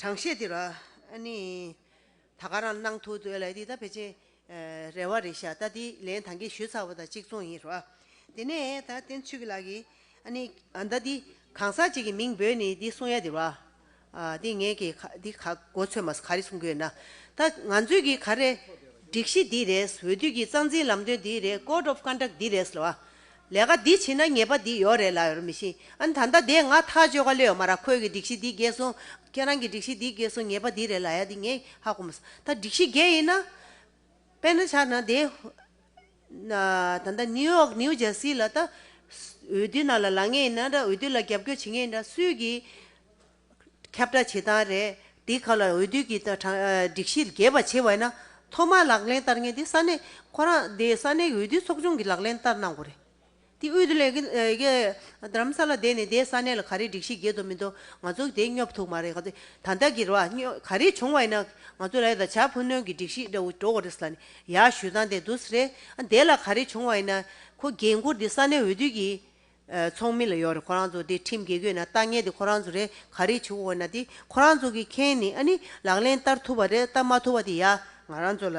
གྲངས་བཤད་འདི་རོ། ཨ་ནི། ད་ག་རང་གནང་ཐུག་འདོད་ལ་འདི་ད་བེད་སྤྱིན་རེད་བ་རེད་ཤག་ད་འདི་ལན་ད་འགས་ཞུས་ཚར་བ་ད་གཅིག་མཚུངས་ཡིན་རོ། དེ་ནས་ད་བསྟན་ཚུལ་གྱི་ལགས་ཀྱི་ཨ་ནི་ད་འདི་གང་ཟག་ཅིག་གི་མིང་འབོད་ནི་འདི་གསུང་ཡ་འདི་རོ། འདི་ངས་ཀྱི་འདི་ག་གོ་ཚོད་མ་ཟ་ག་རེ་གསུང་གི་ཡོད་ན་ད་ང་ཚོས་ཀྱི་ག་རེ་སྒྲིག་གཞི་འདི་རེད་འོས་བསྡུ་གྱི་རྩ་འཛིན་ལམ་སྟོན་འདི་རེད Code of Conduct འདི་རེད་ལ་བ་ལས་ཀ་འདི་བྱེད་ན་ཉེས་པ་འདི་ཡོད་རེད་ལབ་ཡོད་མི་ཤེས་ཨ་ད་ལྟ་དེ་ང་ཐག་གཅོད་ག་ལེ་ཡོད་མ་ར་ཁོས་ཀྱི་སྒྲིག་གཞི་འདི་བརྒྱད་སོང་ཁྱེད་རང་གྱི་སྒྲིག་གཞི་འདི་བརྒྱད་སོང་ཉེས་པ་འདི་རེད་ལ་ཡ་འདི་ངས་ཧ་གོ་མ་སོང་ད་སྒྲིག་གཞི་བརྒྱད་ཡིན་ན། དཔེ་ན་ཆ་ན་དེ། ད་ལྟ་ནིའུ་ཡོག་ནིའུ་ཇར་སི་ལ་ད། འོས་བསྡུ་ནང་ལ་ལང་ངེས་ཡིན་ན་འདྲ་འོས་བསྡུ་ལ་རྒྱབ་སྐྱོར་བྱེད་ངེས་ཡིན་ན་སུས་ཀྱིས། ཁྱབ་བསྒྲགས་བྱེད་སྟངས་རེད། དེའི་ཁག་ལ་འོས་བསྡུའི་གི་སྒྲིག་གཞི་རྒྱས་པ་ཆེ་བས་ན། ཐོག་མར་ལག་ལེན་བསྟར་མཁན་དེ་ས་གནས། ཁོ་རང་དེ་ས་གནས་ཀྱི་འོས་བསྡུའི་ཚོགས་ཆུང་གིས་ལག་ལེན་བསྟར་གནང་དགོས་རེད། དེ་དབུས་དུ་ལས་ཀྱི་ཀྱི་དམ་ས་ལ་བསྡད་ནས་དེ་ས་གནས་ལ་ག་རེ་སྒྲིག་གཞི་རྒྱས་འདུག་མི་འདུག་ང་ཚོ་དེ་སྙོབ་ཐུབ་མ་རེད། ད་ལྟ་གི་ར་བ་ག་རེ་བྱུང་བ་ཡིན་ན། ང་ཚོ་ར་ད་བྱ་ཕུ་ནུ་གི་སྒྲིག་གཞི་འདྲ་བོ་འགྲོ་བ་རེད་ལ་ནི་ཡག་ཞུས་སྟངས་དེ་འདུག་རེད། དེ་ལ་ག་རེ་བྱུང་བ་ཡིན་ན། ཁོ་རྒན་བཀུར་དེ་ས་གནས་འོས་བསྡུ་གི། ཚོགས་མི་ལ་ཡོག་རེད་ཁོ་རང་ཚོ་དེ་ཁྲིམས་འགལ་གོས་ན་ལྟ་ངན་དེ་ཁོ་རང་ཚོ་རེད་ག་རེ་བྱེད་འོ་ན་དེ་ཁོ་རང་ཚོ་གི་མཁན་ནི་ཨ་ནི་ལག་ལེན་བསྟར་ཐུབ་པ་རེད་བསྟར་མ་ཐུབ་པ་དེ་ཡ་ང་རང་ཚོ་ལ་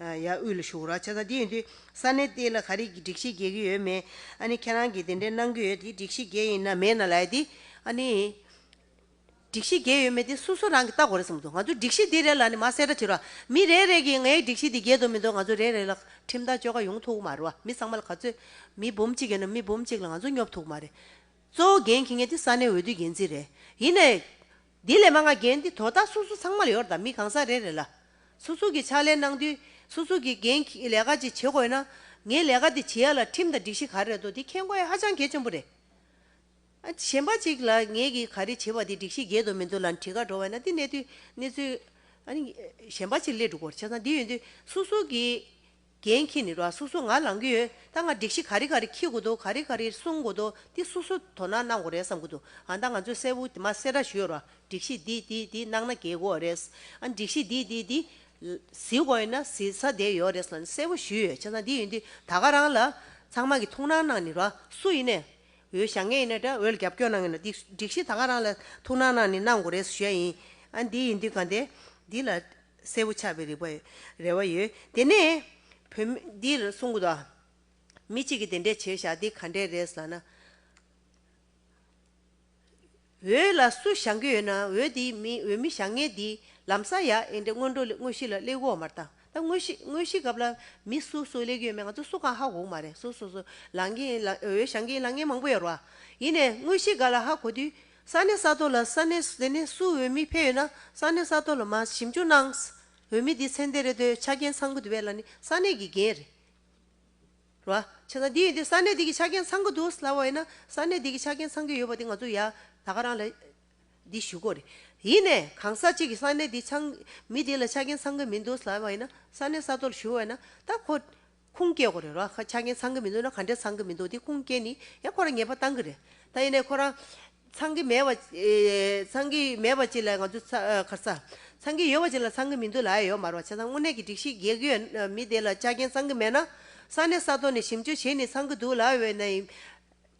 ཡ་དབུས་ལ་ཞུགས་རོགས་བྱས་ཙང་དེ་ཡིན་དུས་ས་གནས་དེ་ལ་ག་རེ་གི་སྒྲིག་གཞི་འགལ་གི་ཡོད་མེད་ཨ་ནི་ཁྱེད་རང་གི་དེ་འདྲའི་གནང་གི་ཡོད་དེ་སྒྲིག་གཞི་འགལ་ཡིན་ན་མེད་ན་ལ་ཡ་དེ་ཨ་ནི། སྒྲིག་གཞི་བརྒྱད་ཡོད་མེད་དེ་སོ་སོ་རང་གིས་བལྟ་གོ་རེ་ཟེར་མི་འདུག་ང་ཚོས་སྒྲིག་གཞི་འདི་རེད་ལ་ནི་མ་གསལ་སྒྲ་ཕྱིར་བ། མི་རེ་རེ་གིས་ངའི་སྒྲིག་གཞི་འདི་བརྒྱད་དུ་མི་འདུག་ང་ཚོ་རེ་རེ་ལ་ཁྲིམས་ཐག་གཅོད་ཁ་ཡོང་ཐུག་གི་མ་རེད་བ། མི་ཚང་མ་ལ་ག་ཚོད། མི་འབུམ་གཅིག་ཡོད་ན་མི་འབུམ་གཅིག་ལ་ང་ཚོ་སྙོབ་ཐུག་གི་མ་རེད། གཙོ་བོ་འགན་འཁྱེར་མཁན་དེ་ས་གནས་འོས་བསྡུའི་འགན་འཛིན་རེད། ཡིན་ནའི། དེ་ལས་མ་འགའ་འགན་དེ་དོ་བདག་སོ་སོ་ཚང་མ་ལ་ཡོད་རེད་ད་མི་གང་ཟག་རེ་རེ་ལ། སོ་སོ་གིས་ཕྱག་ལས་གནང་དུས་སོ་སོ་གིས་འགན་འཁྱེར་ལས་ཀ་ཅིག་བྱེད་དགོས་ན། ངས་ལས་ཀ་དེ་བྱེད་ཡ་ལ་ཁྲིམས་དང་སྒྲིག་གཞི་ག་རེ་རེད་དོ་དེ་མཁྱེན་དགོས་ཡ་ཧ་ཅང་གལ་ཆེན་པོ་རེད། གཞན་པ་ཅིག་ལ་ངེད་ཀྱིས་ག་རེ་བྱེད་པ་དེ་སྒྲིག་གཞི་བརྒྱད་དུ་མི་འདུ་ལ་འཁྲིས་ཀ་འགྲོ་བས་ན་དེ་གནད་དུ་གནས་ཚུལ། གཞན་པ་ཅིག་སླད་སྒྲུག་པར་བྱས་ཙང་འདི་ཡོད་འདི་སུ་སུ་གིས་འགན་འཁྱེར་ནི་རོ་ཨ་སུ་སུ་ང་ལང་གི་ཡོད་ད་ང་སྒྲིག་གཞི་ག་རེ་ག་རེ་འཁྱེར་དགོས་འདུག་ག་རེ་ག་རེ་སྲུང་དགོས་འདུག་འདི་སུ་སུ་དོ་སྣང་གནང་དགོས་རེད་བསམ་གི་འདུག་ཨ་ད་ང་ཚོས་གསལ་བོ་དེ་མ་སེ་ར་ཞུས་རོ་ཨ་སྒྲིག་གཞི་འདི་འདི་འདི་གནང་ན་གལ་དགོས་རེད་ཨ་སྒྲིག་གཞི་འདི་འདི་འདི་བཟི་དགོས་ཡོད་ན་བཟི་ས་དེ་ཡོད་རེད་ལ་གསལ་བོ་ཞུས་ཡོད་བྱས་ཙང་འདི་ཡོད་འདི་ད་ག་རང་ལ་ཚང་མ་གི་ཐུགས་སྣང་གནང་ནི་རོ་ཨ་སུ་ཡིན་ནས་འོས་བཞག་ངེས་ཡིན་ན་འདྲ་འོས་རྒྱབ་སྐྱོར་གནང་ངེས་ན་འདི་སྒྲིག་གཞི་ད་ག་རང་ལ་ཐུགས་སྣང་གནང་ནས་གནང་དགོས་རེད་ཞུ་ཡ་ཡིན་ཨ་འདི་ཡིན་དུས་ག་འདི་འདི་ལ་གསལ་བོ་ཆགས་པའི་རིག་པ་རེ་བ་ཡོད་དེ་ནས་བོད་མི་འདིར་གསུང་གི་འདུག་མི་གཅིག་གིས་དེ་འདྲས་བྱས་བཞག་འདི་ག་འདྲས་རེད་ཟ་ན། འོད་ལ་སུ་བཞག་གི་ཡོད་ན་འོད་དེ་མི་འོད་མི་བཞག་ངེས་འདི་ལམ་ས་ཡ་ཨེ་འདྲེ་སྔོན་འགྲོ་ལས་དངོས་གཞི་ལ་སླེ་གོ་མར་དང་ད་དངོས་གཞི་དངོས་གཞི་སྐབས་ལ་མི་སུ་སུ་སླེ་གི་ཡོད་མེད་ང་ཚོ་སུ་གང་ཧ་གོ་གི་མ་རེད་སུ་སུ་སུ་ལང་གི་ཡིན་ལང་འོད་བཞག་གི་ཡིན་ལང་ངེས་མང་པོ་ཡོད་རོ་ཨ་ཡིན་ནས་དངོས་གཞི་ག་ལ་ཧ་གོ་དུས་ས་གནས་ས་ཐོ་ལ་ས་གནས་དེ་ནས་སུ་འོད་མི་ཕེ་ཡོད་ན་ས་གནས་ས་ཐོ་ལ་མ་ཞིབ་འཇུག་གནང་འོད་མི་དེ་ཚེ་འདས་རེད་འདོད་ཆ་རྒྱན་ཚང་གི་འདུ་བས་ལ་ནི་ས་གནས་ཀྱི་རྒྱན་རེད། ར། བྱས་ཙང་དེ་ཡིན་དུས་ས་གནས་དེ་གི་ཆ་རྐྱེན་ཚང་གི་འདུག་སླ་བོ་ཡིན་ན་ས་གནས་དེ་གི་ཆ་རྐྱེན་ཚང་གི་ཡོད་པ་དེ་ང་ཚོ་ཡ་ད་ག་རང་ལ་འདི་ཞུ་དགོས་རེད། ཡིན་ནས་གང་ཟག་གཅིག་གི་ས་གནས་དེ་ཚང་མི་དེ་ལ་ཆ་རྐྱེན་ཚང་གི་མི་འདུག་སླ་བ་ཡིན་ན་ས་གནས་ས་ཐོག་ལ་ཞུ་བ་ཡིན་ན་ད་ཁོ་ཁུངས་སྐྱེལ་དགོས་རེད་ར། ཆ་རྐྱེན་ཚང་གི་མི་འདུག་ན་ག་འདྲས་ཚང་གི་མི་འདུག་དེ་ཁུངས་སྐྱེལ་ནི་ཡ་ཁོ་རང་ངེས་པ་བཏང་གི་རེད། ད་ཡིན་ནས་ཁོ་རང་ཚང་གི་མེད་པ། ཚང་གི་མེད་པ་ཅི་ལ་ང་ཚོ་ཁར་ཚ། ཚང་གི་ཡོད་པ་ཅི་ལ་ཚང་གི་མི་འདུག་ལ་ཨེ་ཡོད་མར་བ་བྱས་ཙང་དངོས་གནས་ཀྱི་སྒྲིག་གཞི་རྒྱལ་ཁའི་མི་དེ་ལ་ཆ་རྐྱེན་ཚང་གི་མེད་ན། ས་གནས་ས་ཐོག་ནས་ཞིབ་འཇུག་བྱས་ནས་ཚང་གི་འདུག་ལ་ཨེ་ཡོད་ནའི།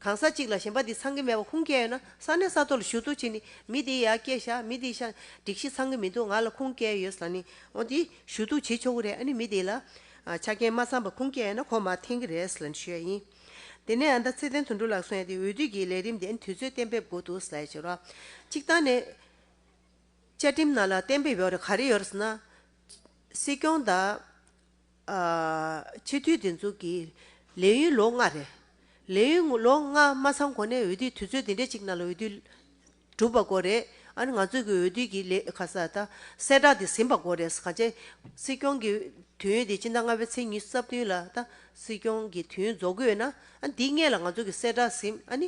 གང་ས་ཅིག་ལ་གཞན་པ་དེ་ཚང་གི་མེད་པ་ཁུངས་སྐྱེལ་ཡོད་ན་ས་གནས་ས་ཐོག་ལ་ཞུ་གཏུག་བྱས་ནས་མི་དེ་ཡར་སྐྱེལ་བྱ་མི་དེ་ཤ་སྒྲིག་གཞི་ཚང་གི་མི་འདུག་ང་ལ་ཁུངས་སྐྱེལ་ཡོད་ས་ནས་འོང་དེ་ཞུ་གཏུག་བྱེད་ཆོག་གི་རེད་ཨ་ནི་མི་དེ་ལ། ཆ་རྐྱེན་མ་ཚང་པ་ཁུངས་སྐྱེལ་ཡོད་ན་ཁོ་མ་འཐེན་གི་རེད་ལ་ཞུ་ཡ་ཡིན། དེ་ནས་ཨ་མདའ་ཚེ་བརྟན་དུད་འགྲོ་ལགས་སུ་ཡོང་སྟེ་འོས་བསྡུ་གྱི་ལས་རིམ་དེ་དུས་ཚོད་གཏན་འབེབས་དགོས་འདུག་ཟེར་ཞེས་རོགས། གཅིག་བཏང་ནས། བཅའ་ཁྲིམས་ནང་ལ་གཏན་འབེབས་ཡོད་རེད་ག་རེ་ཡོད་རེད་ཟེར་ན། སྲིད་སྐྱོང་དང། སྤྱི་འཐུས་འདི་ཚོ་གི་ལས་ཡུན་ལོ་ལྔ་རེད། ལས་ཡུན་ལོ་ལྔ་མ་ཚང་གོང་ནས་འོས་བསྡུའི་དུས་ཚོད་འདི་འདྲའི་གཅིག་ནང་ལ་འོས་བསྡུ། གྲུབ་པ་གོ་རེད། ཨ་རི་ང་ཚོས་གི་འོས་བསྡུས་ཀྱི་ལས་ཁ་གསལ་ད་གསལ་བསྒྲགས་དེ་ཟིན་པ་གོ་རེད་ག་ཅེ། སྲིད་སྐྱོང་གི་དུས་ཡུན་དེ་སྤྱི་ཟླ་ལྔ་པའི་ཚེས་ཉི་རྩ་བདུན་ལ་ད་སྲིད་སྐྱོང་གི་དུས་ཡུན་རྫོགས་དགོས་ན། ཨ་འདི་སྔས་ལ་ང་ཚོས་གི་གསལ་བསྒྲགས་ཟིན་ཨ་ནི།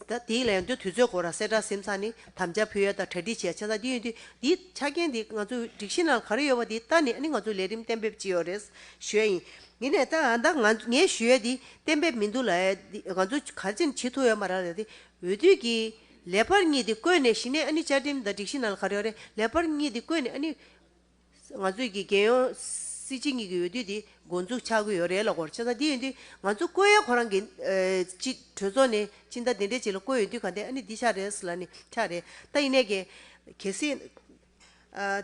ད་དེའི་ལས་དོན་དུས་ཚོད་གོ་ར་གསལ་བསྒྲགས་ཟིན་ཚ་ནི་དམ་བཅའ་ཕུལ་ཡ་ད་གྲ་སྒྲིག་བྱས་ཆ་ད་དེའི་འོས་བསྡུ་དེའི་ཆ་རྐྱེན་དེ་ང་ཚོས་སྒྲིག་གཞི་ནང་ག་རེ་ཡོད་པ་དེ་ད་ནི་ཨ་ནི་ང་ཚོས་ལས་རིམ་གཏན་འབེབས་ཅི་ཡོད་རེད་ཞུས་ཡ་ཡིན། ཡིན་ནས་ད་ཨ་ད་ང་ངས་ཞུས་ཡ་དེ་གཏན་འབེབས་མི་འདུག་ལ་ཡ་དེ་ང་ཚོས་ག་ཅིན་བྱེད་ཐུབ་ཡ་མ་ར་ལ་ཡ་དེ་འོས་བསྡུས་ཀྱི། ལེ་བར་གཉིས་འདི་བཀོད་ནས་ཞི་གནས་ཨ་ནི་བཅའ་ཁྲིམས་དང་སྒྲིག་གཞི་ནང་ལ་ག་རེ་ཡོད་རེད་ལེ་བར་གཉིས་འདི་བཀོད་ནས་ཨ་ནི། ང་ཚོས་ཀྱི་རྒྱལ་ཡོངས་སྲིད་སྤྱི་གཉིས་ཀྱི་འོས་བསྡུ་འདི་འགོ་འཛུགས་ཆགས་ཀྱི་ཡོད་རེད་ལ་གོར་ཆེ་ས་འདི་ཡོད་འདི་ང་ཚོ་བཀོད་ཡ་ཁོ་རང་གི། སྤྱི་གྲོས་ཚོགས་ནས་སྤྱི་ཟླ་འདི་འདྲའི་ཆེད་ལ་བཀོད་ཡོད་འདི་ག་འདི་ཨ་ནི་འདི་ཆགས་རེད་ས་ལ་ནི་ཆགས་རེད་ད་ཡིན་ནས་ཀྱི། གལ་སྲིད།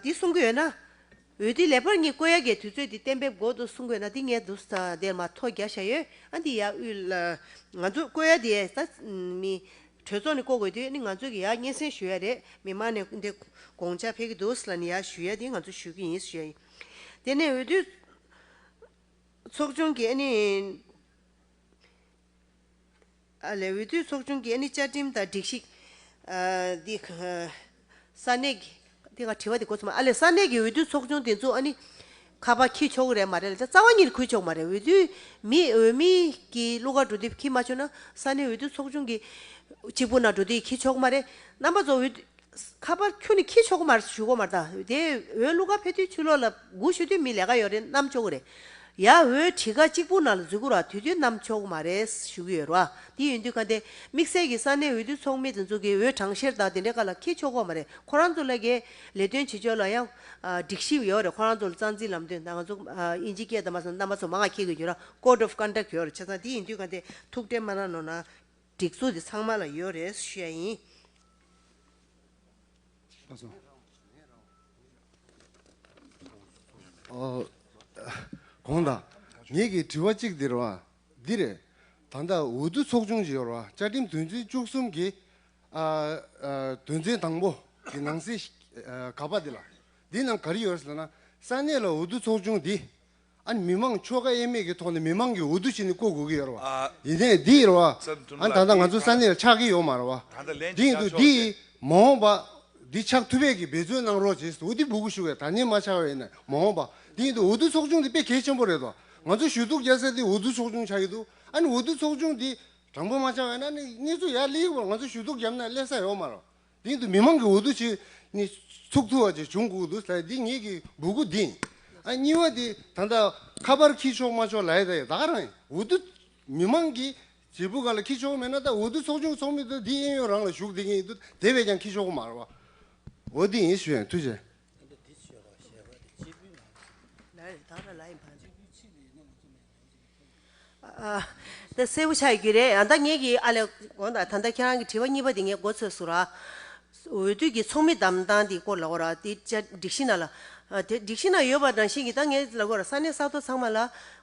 འདི་གསུང་གི་ཡོད་ན། འོས་བསྡུའི་ལས་འཕར་གཉིས་བསྐོ་ཡ་གའི་དུས་ཚོད་དེ་གཏན་འབེབས་འགོ་དུ་གསུང་དགོས་ན་འདི་ངས་དུ་ས་དེར་མ་ཐོ་རྒྱག་བཞག་ཡོད་ཨ་འདི་ཡག་དབུས་ལ། ང་ཚོ་བསྐོ་ཡ་དེ་ད་མི། གྲོས་ཚོགས་ནས་བསྐོ་དགོས་དུས་ནི་ང་ཚོ་གི་ཡག་སྙན་སེང་ཞུ་ཡ་རེད་མི་མང་ནས་འདི་དགོངས་འཆར་འཕེལ་གི་འདུག་ས་ལ་ནི་ཡག་ཞུ་ཡ་དེ་ང་ཚོ་ཞུ་གི་ཡིན་ཞུ་ཡ་ཡིན། དེ་ནས་འོས་བསྡུ། ཚོགས་ཆུང་གི་ཨ་ནི། ལས་འོས་བསྡུའི་ཚོགས་ཆུང་གིས་ནི་བཅའ་ཁྲིམས་དང་སྒྲིག་གཞི། དེ་ག་ས་གནས་ཀྱི། དེ་ག་དྲི་བ་དེ་གོ་ཚོད་མ་ཨ་ལས་ས་གནས་ཀྱི་འོས་བསྡུའི་ཚོགས་ཆུང་དེ་ཚོ་ཨ་ནི། ཁ་པར་འཁྱིལ་ཆོག་གི་རེད་མ་རེད་ལ་རྩ་བ་ཉིད་ཁུར་ཆོག་མ་རེད་འོས་བསྡུའི་མི་འོས་མི་གྱི་གླུ་གར་འགྲོ་དུས་འཁྱིལ་མ་ཆོག་ན་ས་གནས་འོས་བསྡུའི་ཚོགས་ཆུང་གི། གཅིག་པུ་ན་འགྲོ་དུས་འཁྱིལ་ཆོག་མ་རེད་རྣམ་པ་ཚོ་འོས་བསྡུ། ཁ་པར་ཁྱོད་ནི་ཁྱི་ཆོ་གོ་མར་ཞུ་གོ་མར་ད་དེ་འོས་གླུ་གར་ཕེ་ཐུའི་ཆུ་ལོག་ལ་སྒུག་ཞུ་དུས་མི་ལས་ཀ་ཡོད་རེད་གནམ་ཆོ་གོ་རེད་ཡ་འོས་གྲི་ཁ་གཅིག་པུ་ནང་ལ་འཛུལ་གོ་ར་དུས་དུས་གནམ་ཆོ་གོ་མ་རེད་ཞུ་གི་ཡོད་རོ་ཨ་དེ་ཡོད་དུས་ག་དེ་དམིགས་བསལ་གི་ས་གནས་འོས་བསྡུ་ཚོགས་མི་དེ་ཚོ་གི་འོས་གྲངས་བཤེར་དང་དེ་འདྲའི་ཀ་ལ་ཁྱི་ཆོ་གོ་མ་རེད་ཁོ་རང་ཚོ་ལ་གི་ལས་དོན་བྱེད་ཕྱོགས་ལ་ཡང་སྒྲིག་གཞི་ཡོད་རེད་ཁོ་རང་ཚོ་ལ་རྩ་འཛིན་ལམ་སྟོན་དང་ང་ཚོ་ཨིན་ཇི་སྐད་དང་མ་སོ་ནམ་པ་ཚོ་མ་ང་ཁྱི་གི་འགྱུར་ར Code of Conduct ཡོད་རེད་བྱས་ཙང་དེ་ཡིན་དུས་ག་དེ་ཐུགས་ཁྲལ་མ་ར་ནོ་ན། སྒྲིག་འཛུགས་དེ་ཚང་མ་ལ་ཡོད་རེད་བཤད་ཡིན། གོང་དང། ངེད་ཀྱིས་དྲི་བ་གཅིག་འདིར་བ། འདི་རེད། ད་ལྟ་འོས་བསྡུ་ཚོགས་ཆུང་ཞིག་ཡོར་བ་བཅའ་ཁྲིམས་དོན་ཚན་བཅུ་གསུམ་གྱི། དོན་ཚན་དང་པོ་གི་ནང་གསེས་ག་པ་འདི་ལ། འདི་ནང་ག་རེ་ཡོད་ཟེར་ན། ས་གནས་ལ་འོས་བསྡུ་ཚོགས་ཆུང་འདི། ཨ་ནི་མི་དམངས་ཆོལ་ཁ་དབྱེ་མེད་ཀྱི་ཐོག་ནས་མི་དམངས་ཀྱི་འོས་བསྡུ་བྱས་ནས་བསྐོ་དགོས་ཀྱི་ཡོད་རེད་བ། ཡིན་ནའི་འདི་རེད་བ། ཨ་ནི་ད་ལྟ་ང་ཚོའི་ས་གནས་ལ་ཆགས་ཀྱི་ཡོད་མ་རེད་བ། དེ་ཡིན་དུས་འདི་ཡིས་མ་འོངས་པ། འདི་ཆགས་ཐུབ་པས་ཀྱི་འབད་བརྩོན་གནང་རོགས་བྱས་འོས་བསྡུ་འབུལ་དགོས་ཞུ་བའི་དྲ་བརྙན་མ་ཆགས་བས་ནས་མ་འོངས་པ། དེ་ཡིན་དུས་འོས་བསྡུ་ཚོགས་ཆུང་འདི་དཔེ་གལ་ཆེན་པོ་རེད་བ། ང་ཚོ་ཞུ་གཏུག་རྒྱལ་སའི་འདི་འོས་བསྡུ་ཚོགས་ཆུང་ཆགས་ཀྱི་འདུག་ཨ་ནི་འོས་བསྡུ་ཚོགས་ཆུང་འདི་དྲང་པོ་མ་ཆགས་བས་ན་ཨ་ནི་གནས་ཚུལ་ཡར་སླེ་ཡི་བར་ང་ཚོ་ཞུ་གཏུག་བརྒྱབ་ན་སླེ་ས་ཡོད་མ་རེད་བ། སྟེང་དུ་མི་མང་གི་འོ་དོད་ཆེ་ནི་ཚུགས་ཐུབ་བ་ཅིག་བྱུང་བསྒུགས་འདུག་ཟེར་འདི་ངེད་ཀྱི་འབུ་གུ་འདི། ཨ་གཉིས་བ་དེ་ད་ལྟ་ཁ་པར་འཁྱིལ་ཆོག་མ་ཆོག་ལའི་ད་ག་རང་འོ་དོད། མི་མང་གི་བྱེད་པོ་ག་ལ་འཁྱིལ་ཆོག་མེད་ན་ད་འོ་དོད་ཚོགས་ཆུང་ཚོགས་མི་དེ་འདི་ཨེ་ཡོད་རང་ལ་བཞུགས་བསྡད་ཀྱིན་ཡིན་འདུག་དེ་བས་ཀྱང་འཁྱིལ་ཆོག་གོ་མ་རེད་བ། འོ་འདི་ཡིན་ཞུས་ཡང་ཐུགས་ཆེ། ད་གསལ་པོ་ཆགས་ཀྱི་རེད་ཡང་ད་ངེད་ཀྱིས་ཨ་ལས་དགོངས་དང་ད་ལྟ་ཁྱེད་རང་གི་དྲི་བ་གཉིས་པ་དེ་ངས་མགོ་ཚོས་སུ་ར། འོས་བསྡུ་གྱི་ཚོགས་མི་བདམས་སྟངས་དེ་སྐོར་ལའོ་ར་དེ་བཅའ་སྒྲིག་གཞི་ན་ལ། དེ་སྒྲིག་གཞི་ན་ཡོད་པ་རང་བཞིན་གྱིས་ད་ངས་ལ་དགོས་ར་ས་གནས་ས་ཐོ་ཚང་མ་ལ་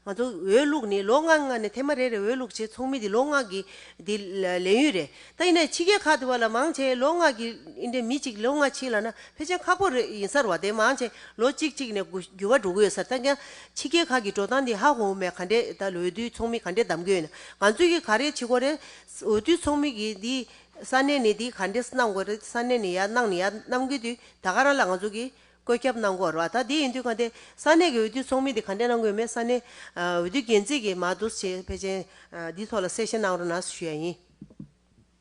ང་ཚོ་འོས་བླུགས་ནི་ལོ་ལྔ་ལྔ་ནས་ཐེངས་མ་རེ་རེ་འོས་བླུགས་བྱེད་ཚོགས་མི་དེ་ལོ་ལྔ་གི་དེ་ལས་ཡུན་རེད་ད་ཡིན་ནའི་ཕྱི་རྒྱལ་ཁག་དེ་བ་ལ་མང་ཆེ་ལོ་ལྔ་གི་ཨིན་དྲན་མི་གཅིག་ལོ་ལྔ་ཕྱིན་ལ་ན་ཕལ་ཆེར་ཁག་པོ་རེ་ཡིན་སར་བ་དེ་མང་ཆེ་ལོ་གཅིག་གཅིག་ནས་འགྱུར་བ་འགྲོ་གི་ཡོད་སར་ད་ཀྱང། ཕྱི་རྒྱལ་ཁག་གི་འགྲོ་སྟངས་འདི་ཧ་གོ་འོས་མེད་ག་འདྲེ་ད་འོས་བསྡུའི་ཚོགས་མི་ག་འདྲེ་གདམ་དགོས་ཡོད་ན་ང་ཚོས་ཀྱི་ག་རེ་བྱེད་དགོས་རེད། འོས་བསྡུའི་ཚོགས་མི་གིས་འདི་ས་གནས་ནས་འདི་ག་འདྲེ་གནང་དགོས་རེད་ས་གནས་ནས་ཡ་གནང་ནས་ཡ་གནང་དགོས་དུས་ད་ག་རང་ལ་ང་ཚོ་གིས་བཀོད་ཁྱབ་གནང་དགོས་རེད་ད་དེ་ཡིན་དུས་ག་འདྲེ་ས་གནས་ཀྱི་འོས་བསྡུའི་ཚོགས་མི་འདི་ག་འདྲེ་གནང་དགོས་མེད་ས་གནས་འོས་བསྡུའི་འགན་འཛིན་གྱིས་མ་དུ་ཆེད་ཕེ་ཆེན་འདི་ཐོག་ལ་གསལ་བཤད་གནང་རོགས་གནང་ཞུ་ཡ་ཡིན།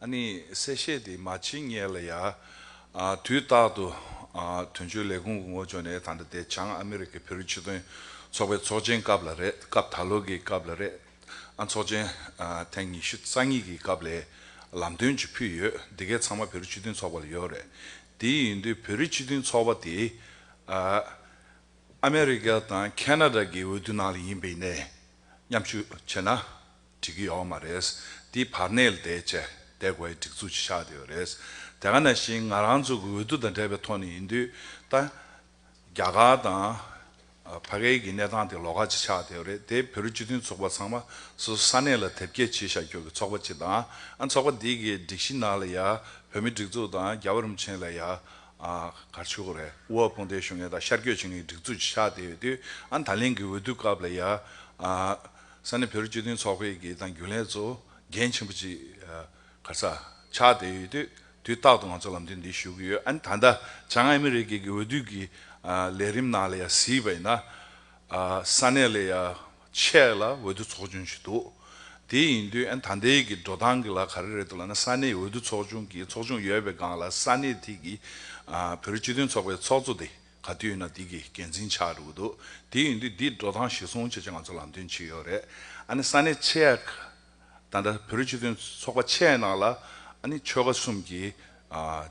ཨ་ནི་གསལ་བཤད་དེ་མ་བྱེད་ངེས་ལ་ཡ། དུས་རྟག་ཏུ་དོན་གཅོད་ལས་ཁུངས་ཀྱི་ངོ་ཅོག་ནས་ད་ལྟ་དེ་བྱང་ཨ་མེ་རི་ཁའི་བེ་རི་སྤྱི་དོན་ཚོགས་པའི་ཚོགས་ཆེན་སྐབས་ལ་རེད་སྐབས་ད་ལོ་གི་སྐབས་ལ་རེད་ཨ་ཚོགས་ཆེན་ཐེངས་ཉི་ཤུ་རྩ་གཉིས་ཀྱི་སྐབས་ལས་ལམ་སྟོན་ཅིག་ཕུལ་ཡོད་འདི་གའི་ཚང་མ་བེ་རི་སྤྱི་དོན་ཚོགས་པ་ལ་ཡོད་རེད་དེ་ཡིན་དུས་བེ་རི་སྤྱི་དོན་ཚོགས་པ་དེ་ཨ་མེ་རི་ཁ་དང་ཁེ་ན་རྡ་གི་འོས་བསྡུ་ནང་ལ་ཡིན་པའི་ནས་མཉམ་ཞུགས་བྱེད་ན། འགྲིག་གི་ཡོག་མ་རེད། འདི་བར་གནས་ལ་དེད་ཆེད་དེ་གོ་ཡའི་སྒྲིག་འཛུགས་ཀྱིས་བཞག་དེ་ཡོད་རེད། དེ་ག་ནང་བཞིན་ང་རང་ཚོ་གི་འོས་བསྡུ་དང་འབྲེལ་བའི་ཐོག་ནས་ཡིན་དུས་ད། རྒྱ་གར་དང། བྷ་གའི་གི་གནས་སྟངས་དེ་ལོགས་ཀ་གཅིག་ཆགས་དེ་ཡོད་རེད་དེ་བོད་རིགས་སྤྱི་མཐུན་ཚོགས་པ་ཚང་མ་སོ་སོ་ས་གནས་ལ་དེབ་སྐྱེལ་བྱེད་བཞག་རྒྱུ་གི་ཚོགས་པ་གཅིག་དང་ཨ་ཚོགས་པ་འདི་གི་སྒྲིག་གཞི་ནང་ལ་ཡ་བོད་མི་སྒྲིག་འཛུགས་དང་རྒྱ་བོད་རིམ་ཆེན་ལ་ཡ། གར་ཆུ་གོ་རེ་ཝུའོ་སྤུན་ཟླའི་གཞུང་ངན་དང་ཤར་སྐྱོད་བྱེད་མཁན་གི་སྒྲིག་འཛུགས་ཀྱིས་བཞག་དེ་ཡོད་དུས་ཨ་ད་ལན་གི་འོས་བསྡུ་སྐབས་ལ་ཡ། ས་གནས་བོད་རིགས་སྤྱི་མཐུན་ཚོགས་པའི་དགེ་དང་རྒྱུན་ལས་གཙོ་འགན་ཆེན་པོ་ཅིག་ག་ས་ཆགས་བསྡད་ཡོད་དུས་དུས་རྟག་ཏུ་ང་ཚོ་ལམ་སྟོན་འདི་ཞུ་གི་ཡོད་ཨ་ནི་ད་ལྟ་བྱང་ཨ་མི་རི་ཀའི་གི་འོས་བསྡུ་གི་ལས་རིམ་ནང་ལ་ཡ་གཟིགས་པ་ཡིན་ན་ས་གནས་ལས་ཡ་ཆད་ལ་འོས་བསྡུ་ཚོགས་ཆུང་ཞིག་འདུག་དེ་ཡིན་དུས་ཨ་ནི་ད་ལྟའི་གི་འགྲོ་སྟངས་གི་ལ་ག་རེ་རེད་འདུག་ལ་ན་ས་གནས་འོས་བསྡུ་ཚོགས་ཆུང་གི་ཚོགས་ཆུང་ཡོད་པའི་སྒང་ལ་ས་གནས་དེ་གི་བོད་རིགས་སྤྱི་མཐུན་ཚོགས་པའི་ཚོགས་གཙོ་དེ། ག་དུས་ན་འདི་གི་འགན་འཛིན་ཆགས་འགྲོ་གི་འདུག་དེ་ཡིན་དུས་འདིས་འགྲོ་སྟངས་གཞིར་བཟུང་བྱས་ཚེ་ང་ཚོ་ལམ་སྟོན་བྱེད་ཡོད་རེད་ཨ་ནི་ས་གནས་ཆེ་ཡག་དང་འདྲ་བོད་རིགས་སྤྱི་མཐུན་ཚོགས་པ་ཆེ་ཡག་ནང་ལ་ཨ་ནི་ཆོལ་ཁ་གསུམ་གྱི་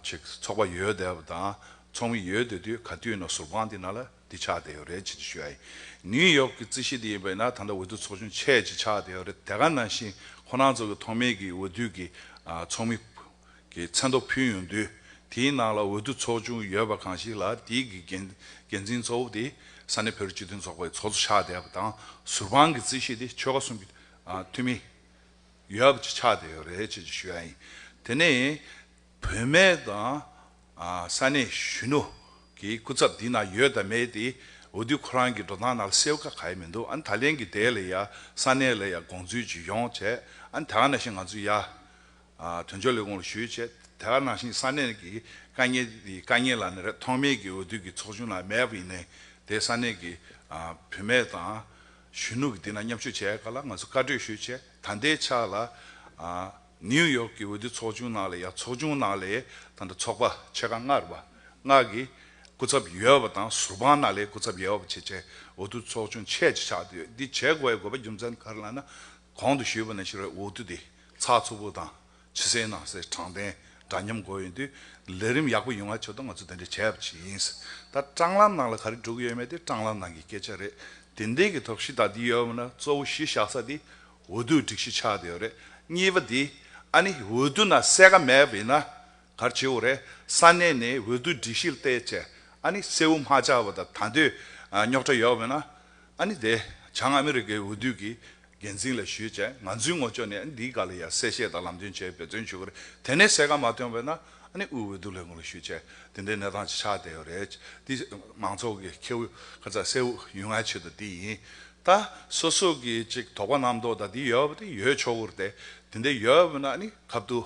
ཆེག་ཚོགས་པ་ཡོད་བསྡད་པ་དང་ཚོགས་མི་ཡོད་བསྡད་དུས་ག་དུས་ན་ཟུར་དཔང་དེ་ནང་ལ་འདི་ཆགས་བསྡད་ཡོད་རེད་ཅེས་འདྲི་ཞུ་ཡ་ཡིན་ནིའུ་ཡོག་གི་རྩིས་གཞི་འདི་ཡིན་པས་ན་ད་ལྟ་འོས་བསྡུ་ཚོགས་ཆུང་ཆེ་ཡག་ཅིག་ཆགས་བསྡད་ཡོད་རེད་དེ་ག་ནང་བཞིན་ཁོ་རང་ཚོ་གི་ཐོག་མེད་ཀྱི་འོས་བསྡུ་གི་ཚོགས་མི། གི་མཚན་ཐོ་ཕུལ་ཡོང་དུས་དེའི་ནང་ལ་འོས་བསྡུ་ཚོགས་ཆུང་ཡོད་པ་གང་ཞིག་ལ་དེའི་གི་འགན་འགན་འཛིན་གཙོ་བོ་དེ་ས་གནས་བོད་རིགས་སྤྱི་མཐུན་ཚོགས་པའི་ཚོགས་གཙོ་ཆགས་བསྡད་པ་དང་ཟུར་དཔང་གི་རྩིས་ཤིག་དེ་ཆོལ་ཁ་གསུམ་གི་འཐུས་མི་ཡོད་པ་ཅིག་ཆགས་བསྡད་ཡོད་རེད་ཅེས་ཞུ་ཡ་ཡིན། དེ་ནས་བུད་མེད་དང་ས་གནས་གཞོན་ནུ་གི་སྐུ་ཚབ་དེའི་ནང་ཡོད་དང་མེད་དེ་འོས་བསྡུ་ཁོ་རང་གི་འགྲོ་སྟངས་ནང་ལ་གསལ་བོ་ག་ག་ཡི་མི་འདུག་ཨ་ནི་ད་ལན་གི་དེ་ལ་ཡ་ས་གནས་ལ་ཡ་དགོངས་ཚུལ་ཇི་ཡོང་བྱས་ཨ་ནི་ད་ག་ནས་ཤེས་ང་ཚོ་ཡ་དོན་གཅོད་ལས་ཁུངས་ལ་ཞུས་བྱས་དེ་ལ་ནང་བཞིན་ས་གནས་ཀྱི་དཀའ་ངལ་དེ་དཀའ་ངལ་ལ་ནི་རེ་ཐོག་མེད་ཀྱི་འོས་བསྡུ་ཀྱི་ཚོགས་ཆུང་ལ་མེད་པ་ཡིན་ནའི་དེ་ས་གནས་ཀྱི་བུད་མེད་དང་གཞོན་ནུ་ཀྱི་དེ་ན་མཉམ་ཞུགས་བྱས་ཀ་ལ་ང་ཚོ་བཀའ་གྲོས་ཞུས་བྱས་ད་ལྟའི་ཆ་ལ་ནིའུ་ཡོག་ཀྱི་འོས་བསྡུ་ཚོགས་ཆུང་ནང་ལ་ཡང་ཚོགས་ཆུང་ནང་ལས་ད་ལྟ་ཚོགས་པ་ཕྱེད་ཀ་ལྔ་རེ་བ་ལྔ་གི་སྐུ་ཚབ་ཡོད་པ་དང་ཟུར་དཔང་ནང་ལས་སྐུ་ཚབ་ཡོད་པ་བྱས་བྱས་འོས་བསྡུ་ཚོགས་ཆུང་ཕྱེད་ཅིག་ཆགས་བསྡད་ཡོད་འདི་བྱས་དགོས་པའི་དགོས་པ་རྒྱུ་མཚན་ག་རེ་ལ་ན་གོང་དུ་ཞུས་པ་ནང་བཞིན་རེད་འོས་བསྡུ་དེ། ཚགས་ཚུད་པོ་དང་ཕྱི་གསལ་ནང་གསལ་དྲང་བདེན་འདྲ་མཉམ་དགོས་ཡོད་དུས་ལས་རིམ་ཡག་པོ་ཡོང་བ་ཆོད་དོ་ང་ཚོ་དེ་འདྲ་བྱས་ཡབ་ཅིག་ཡིན། ད་སྤྲང་ལམ་ནང་ལ་ག་རེ་འདྲུག་ཡོད་མེད་དེ་སྤྲང་ལམ་ནང་གི་སྐད་ཆ་རེད་དེ་འདས་ཀྱི་ཐོག་གཞི་བདག་འདི་ཡོད་པ་ན་གཙོ་བོ་གཞི་བཞག་ས་དེ་འོས་བསྡུ་སྒྲིག་གཞི་ཆགས་དེ་ཡོད་རེད་གཉིས་པ་དེ་ཨ་ནི་འོས་བསྡུ་ན་གསལ་ཁ་མེད་པ་ཡིན་ན་གར་བྱེད་འོས་རེད་ས་གནས་ནས་འོས་བསྡུ་སྒྲིག་གཞིར་བལྟས་བྱས་ཨ་ནི་གསལ་བོ་མ་ཆགས་པ་དང་ད་འདོད་རྙོག་དྲ་ཡོད་པ་ཡིན་ན་ཨ་ནི་དེ་བྱང་ཨ་མི་རི་ཀའི་འོས་བསྡུ་གི་འགན་འཛིན་ལ་ཞུས་བྱས་ང་ཚོའི་ངོ་ཅོག་ནས་ཨ་ནི་འདིའི་ག་ལ་ཡ་གསལ་བཤད་དང་ལམ་སྟོན་བྱས་འབད་བརྩོན་ཞུ་གི་རེད་དེ་ནས་གསལ་ཁ་མ་ཐོན་བས་ན་ཨ་ནི་དབུས་འོས་བསྡུ་ལས་ཁུངས་ལ་ཞུས་བྱས་དེ་འདྲའི་གནས་སྟངས་ཅིག་ཆགས་བསྡད་ཡོད་རེད་འདི་མང་ཚོགས་ཀྱི་ཁེ་བོ་ག་ཚ་གསལ་བོ་ཡོད་ང་ཆེད་དུ་འདི་ཡིན་ད་སོ་སོ་གི་ཅིག་དོགས་པ་རྣམ་རྟོག་དང་འདི་ཡོད་པ་དེ་ཡོད་ཆོག་གི་རེད་དེ་འདྲའི་ཡོད་བས་ན་ཨ་ནི་གབ་ཏུ།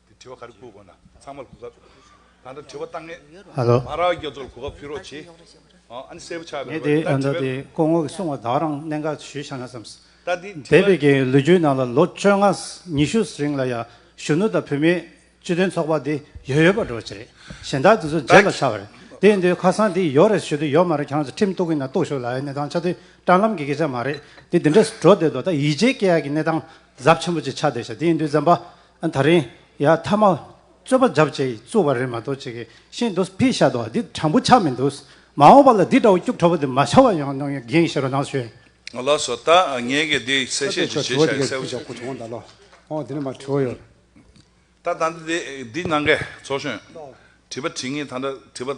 དེ་དྲི་བ་ག་རེ་བསྐུར་དགོས་ན་ཚང་མར་གོ་སྐབས་ད་ལྟ་དྲི་བ་བཏང་ངེས། མ་རག་རྒྱ་མཚོར་གོ་སྐབས་ཕུལ་རོགས་གྱིས། ཨ་ནི་གསལ་པོ་ཆགས་པའི་ངས་དེ་ལྟར་དྲི་བའི། སྐུ་ངོ་གིས་གསུང་བ་དག་རང་གནད་འགག་ཞུས་ཤག་ན་བསམས། འདས་པའི་རྒྱའི་ལོ་རྒྱུས་ནང་ལ་ལོ་བཅོ་ལྔ་ཉི་ཤུ་རིང་ལ་ཡང་གཞོན་ནུ་དང་བུད་མེད་སྤྱི་མཐུན་ཚོགས་པ་འདི་ཡོད་ཡོད་པ་འགྲོ་བ་ཅི་རེད་གཞན་དག་དེ་ཚོ་མཇེ་ལ་ཆགས་པ་རེད་དེ་འདི་ཁ་སང་འདི་ཡོད་རེད་ཞུ་དུས་ཡོད་མ་རེད་གྱང་ཚོ་ཁྲིམས་གཏུག་གི་ན་གཏུག་ཞོག་ལ་ཡ་ནད་ཐང་ཆགས་དུས་སྤྲང་ལམ་གི་སྐད་ཆ་མ་རེད་དེ་འདི་འདྲ་འགྲོ་བསྡད་དོ་ད་ཡིད་ཆེས་སྐྱེ་ཡག་གི་ནད་ཐང་ཛབ་ཆེན་པོ་ཅིག་ཆགས་བསྡད་ཤག་དེ་ཡིན་དུས་འཛམ་པ་ད་རིང་ཡ་མཐའ་མ་རྩོད་པ་བརྒྱབ་བཅས་རྩོད་པ་རེད་མ་གཏོགས་ཅིག་ཤེས་འདུག་ཕི་ཤ་དོ་འདི་དྲང་པོ་ཆགས་མི་འདུག་མ་འོངས་པ་ལ་འདི་འདྲ་བོ་སྐྱུག་བྲོ་བོ་འདི་མ་ཆགས་པ་ཡོང་ནོ་འགན་བཞེས་རོགས་གནང་ཞུ། ང་ལགས་སོ་ད་ངས་ཀྱི་འདི་གསལ་བཤད་ཅིག་བྱེད་བྱ་ཡི་གསལ་བོ་ཞིག་ཁུ་བྱུང་ད་ལོ་ཨོ་དེ་ནི་མ་དྲོ་ཡོད། ད་ད་འདི་འདི་གནང་གས་ཚོགས་གཞོན་དྲི་བ་དྲི་ངེས་ད་འདྲ་དྲི་བ།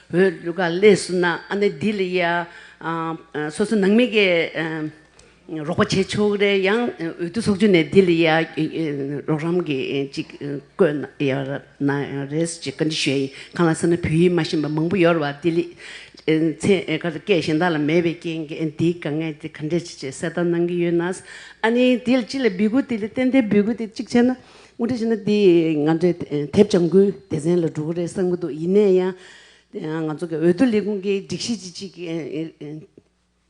བོད་གླུ་ག་ལེ་བསུ་ན་ཨ་ནེ་འདི་ལ་ཡ། སོ་སོ་ནང་མི་གི་རོགས་པ་བྱེད་ཆོག་གི་རེད་ཡང་འོས་བསྡུ་ཚོགས་ཆུང་ནས་འདི་ལ་ཡ་རོགས་རམ་གི་ཅིག་བསྐོས་ན་ཡ་ན་རེས་ཅིག་བཀའ་འདྲི་ཞུ་ཡ་ཡིན་གང་ལ་སེམས་ན་བོད་ཡིག་མ་ཤེས་པ་མང་པོ་ཡོད་རེད་བ་འདི་ལ་ཚེ་ག་ཚོད་སྐད་གཞན་དག་ལ་མེད་པའི་རྐྱེན་གི་འདི་ག་ངས་འདི་ག་འདྲི་ཅིག་ཅེས་གསལ་བརྡ་གནང་གི་ཡོད་ནའ། ཨ་ནེ་འདི་ལ་ཅི་ལ་འབུལ་དགོས་འདི་ལ་ཏན་ཏན་འབུལ་དགོས་དེ་ཅིག་བྱས་ན་དངོས་འབྲེལ་བྱས་ན་དེ་ང་འདྲའི་དེབ་བྱ་འགུལ་སྡེ་ཚན་ལ་འགྲོ་གི་རེད་བསམ་གྱི་འདུག་ཡིན་ནས་ཡང་ང་ཚོ་འོས་བསྡུ་ལས་ཁུངས་ཀྱི་སྒྲིག་གཞི་ཅི་ཅིག་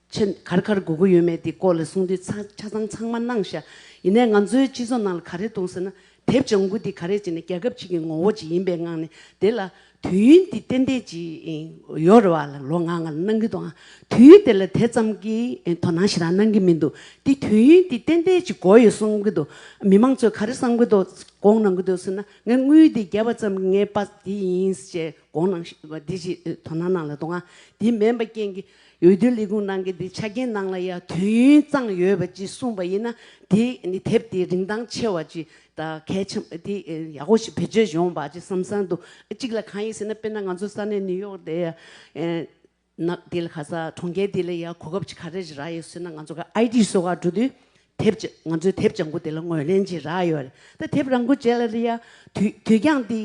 ཆེད་ག་རེ་ག་རེ་དགོས་ཀྱི་ཡོད་མེད་དེ་སྐོར་ལ་གསུང་དུས་ཆ་ཚང་ཚང་མ་གནང་ཤག་ཡིན་ནས་ང་ཚོའི་སྤྱི་ཚོགས་ནང་ལ་ག་རེ་གཏོང་ཟེར་ན་དེབ་བྱ་འགུལ་དེ་ག་རེ་བྱས་ནས་རྒྱལ་ཁབ་ཅིག་གི་ངོ་བོ་ཅིག་ཡིན་པའི་ངང་ནས་དེ་ལ་དུས་ཡུན་འདི་ཏན་ཏན་གྱིས་ཡོལ་བ་ལ་ལོ་ལྔ་ལྔ་གནང་གི་འདུག་ཨང། དུས་ཡུན་དེ་ལ་དེ་ཙམ་གྱི་དོ་སྣང་ཞེ་དྲག་གནང་གི་མི་འདུག་དེ་དུས་ཡུན་འདི་ཏན་ཏན་གྱིས་འགོར་ཡོད་གསུང་གི་འདུག་མི་མང་ཚོས་ག་རེ་བསམ་གི་འདུག་དགོངས་གནང་གི་འདུག་ཟེར་ན་ངས་དངུལ་འདི་བརྒྱབ་པ་ཙམ་གྱིས་ངའི་དཔའ་འདི་ཡིན་ཅེས་དགོངས་གནང་བཞིན་འདི་གཅིག་དོ་སྣང་གནང་ལ་འདུག་ཨང། དེ་མེད་པ་རྐྱེན་གྱིས། འོས་བསྡུ་ལས་ཁུངས་ནང་གི་འདི་ཆ་རྐྱེན་ནང་ལ་ཡང་དུས་ཡུན་གཙང་ཡོད་པ་ཅིག་གསུངས་པ་ཡིན་ན་དེ་ནི་དེབ་དེ་རིན་ཐང་ཆེ་བ་ཅིག་དང་གལ་ཆེན་པོ་དེ་ཡག་པོ་ཞིག་བེད་སྤྱོད་བྱུང་བ་ཅིག་བསམ་སར་འདུག་གཅིག་ལ་གང་ཡིན་ཟེར་ན་དཔེར་ན་ང་ཚོ་ས་གནས་ནིའུ་ཡོག་དེ་ན་དེ་ལ་ག་ས་གྲོང་ཁྱེར་དེ་ལ་ཡང་གོ་སྐབས་ཅིག་ག་རེ་རག་ཡོད་ཟེར་ན་ང་ཚོ་ག་ཨའི་ཏི་སོགས་ཀ་འགྲོ་དུས་དེབ་ཅིག་ང་ཚོའི་དེབ་བྱང་བུ་དེ་ལ་ངོས་ལེན་ཅིག་རག་ཡོད་རེད་ད་དེབ་རང་འགུལ་བྱས་ལ་རེད་ཡ་དུས་དུས་ཀྱང་དེ་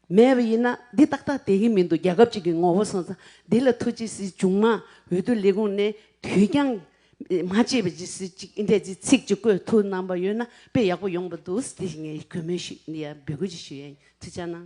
མེད་པ་ཡིན་ན་འདི་ཏག་ཏག་དེ་གི་མི་འདུག་རྒྱལ་ཁབ་ཅིག་གི་ངོ་བོ་སོང་ཙང་འདི་ལ་ཐུགས་རྗེ་སིའི་ཅུང་མ་འོས་བསྡུ་ལས་ཁུངས་ནས་དུས་འགྱངས་མ་བྱེད་པ་ཅིག་སིའི་ཅིག་འད་ཅིག་ཚིག་ཅིག་བཀོད་ཐུགས་གནང་པ་ཡོད་ན་དཔེ་ཡག་པོ་ཡོང་པ་འདུག་སི་དེ་ངའི་གུས་མོས་ཤིག་འདི་ཡང་འབོད་སྐུལ་ཅིག་ཞུ་ཡན་ཚིག་ཆ་གནང།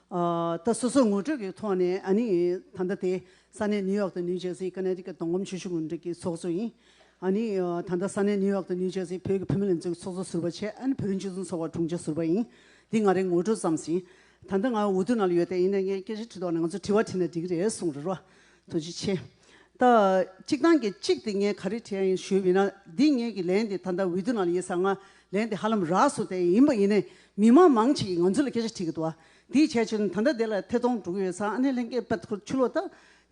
ད་སོ་སོའི་ངོ་སྤྲོད་ཀྱི་ཐོག་ནས་ཨ་ནི་ད་ལྟ་དེ་ས་གནས་ནིའུ་ཡོག་དང་ནིའུ་ཇེར་སི་ཀ་ནེ་རི་ཀ་གདོང་གོམ་ཆོས་ཞུགས་འགྲིག་གི་ཚོགས་གཙོ་ཡིན། ཨ་ནི་ད་ལྟ་ས་གནས་ནིའུ་ཡོག་དང་ནིའུ་ཇེར་སི་བོད་ཀྱི་བུད་མེད་ལས་འཛོལ་གྱི་ཚོགས་གཙོ་ཟུར་པ་ཆེ་ཨ་ནི་བོད་རིགས་སྤྱི་མཐུན་ཚོགས་པ་དྲུང་ཆེ་ཟུར་པ་ཡིན། འདི་ང་རེ་ངོ་སྤྲོད་ཙམ་ཟིན། ད་ལྟ་ང་འུ་ཐུག་ནང་ལ་ཡོད་དེ་ཡིན་ན་ངས་སྐད་ཆ་དྲི་དོགས་ན་ང་ཚོས་དྲི་བ་དྲིས་ན་འགྲིག་གི་རེད་གསུངས་རེ་རོ། དོན་ཅི་ཆེ། ད། གཅིག་དང་གི་གཅིག་དེ་ངས་ག་རེ་བྲིས་ཡ་ཡིན་ཞུས་མིན་ན་འདི་ངེད་ཀྱི་ལན་དེ་ད་ལྟ་འོས་བསྡུ་ནང་ལ་ཡིན་ས་ང་ལན་དེ་ཧ་ལམ་རགས་སུ་དེ་ཡིན་པ་ཡིན་ནས་མི་མང་མང་ཆེ་ཡིས་ང་ཚོ་ལ་སྐད་ཆ་དྲིས་ཀྱི་འདུག་དེའི་བྱས་ཆོས་ནི་ད་ལྟ་དེ་ལ་ཐད་གཏོང་འགྲོ་གི་ཡོད་ས་ཨ་ནེ་ལྷན་སྐད་པད་ཁུར་ཆུ་ལོག་ད་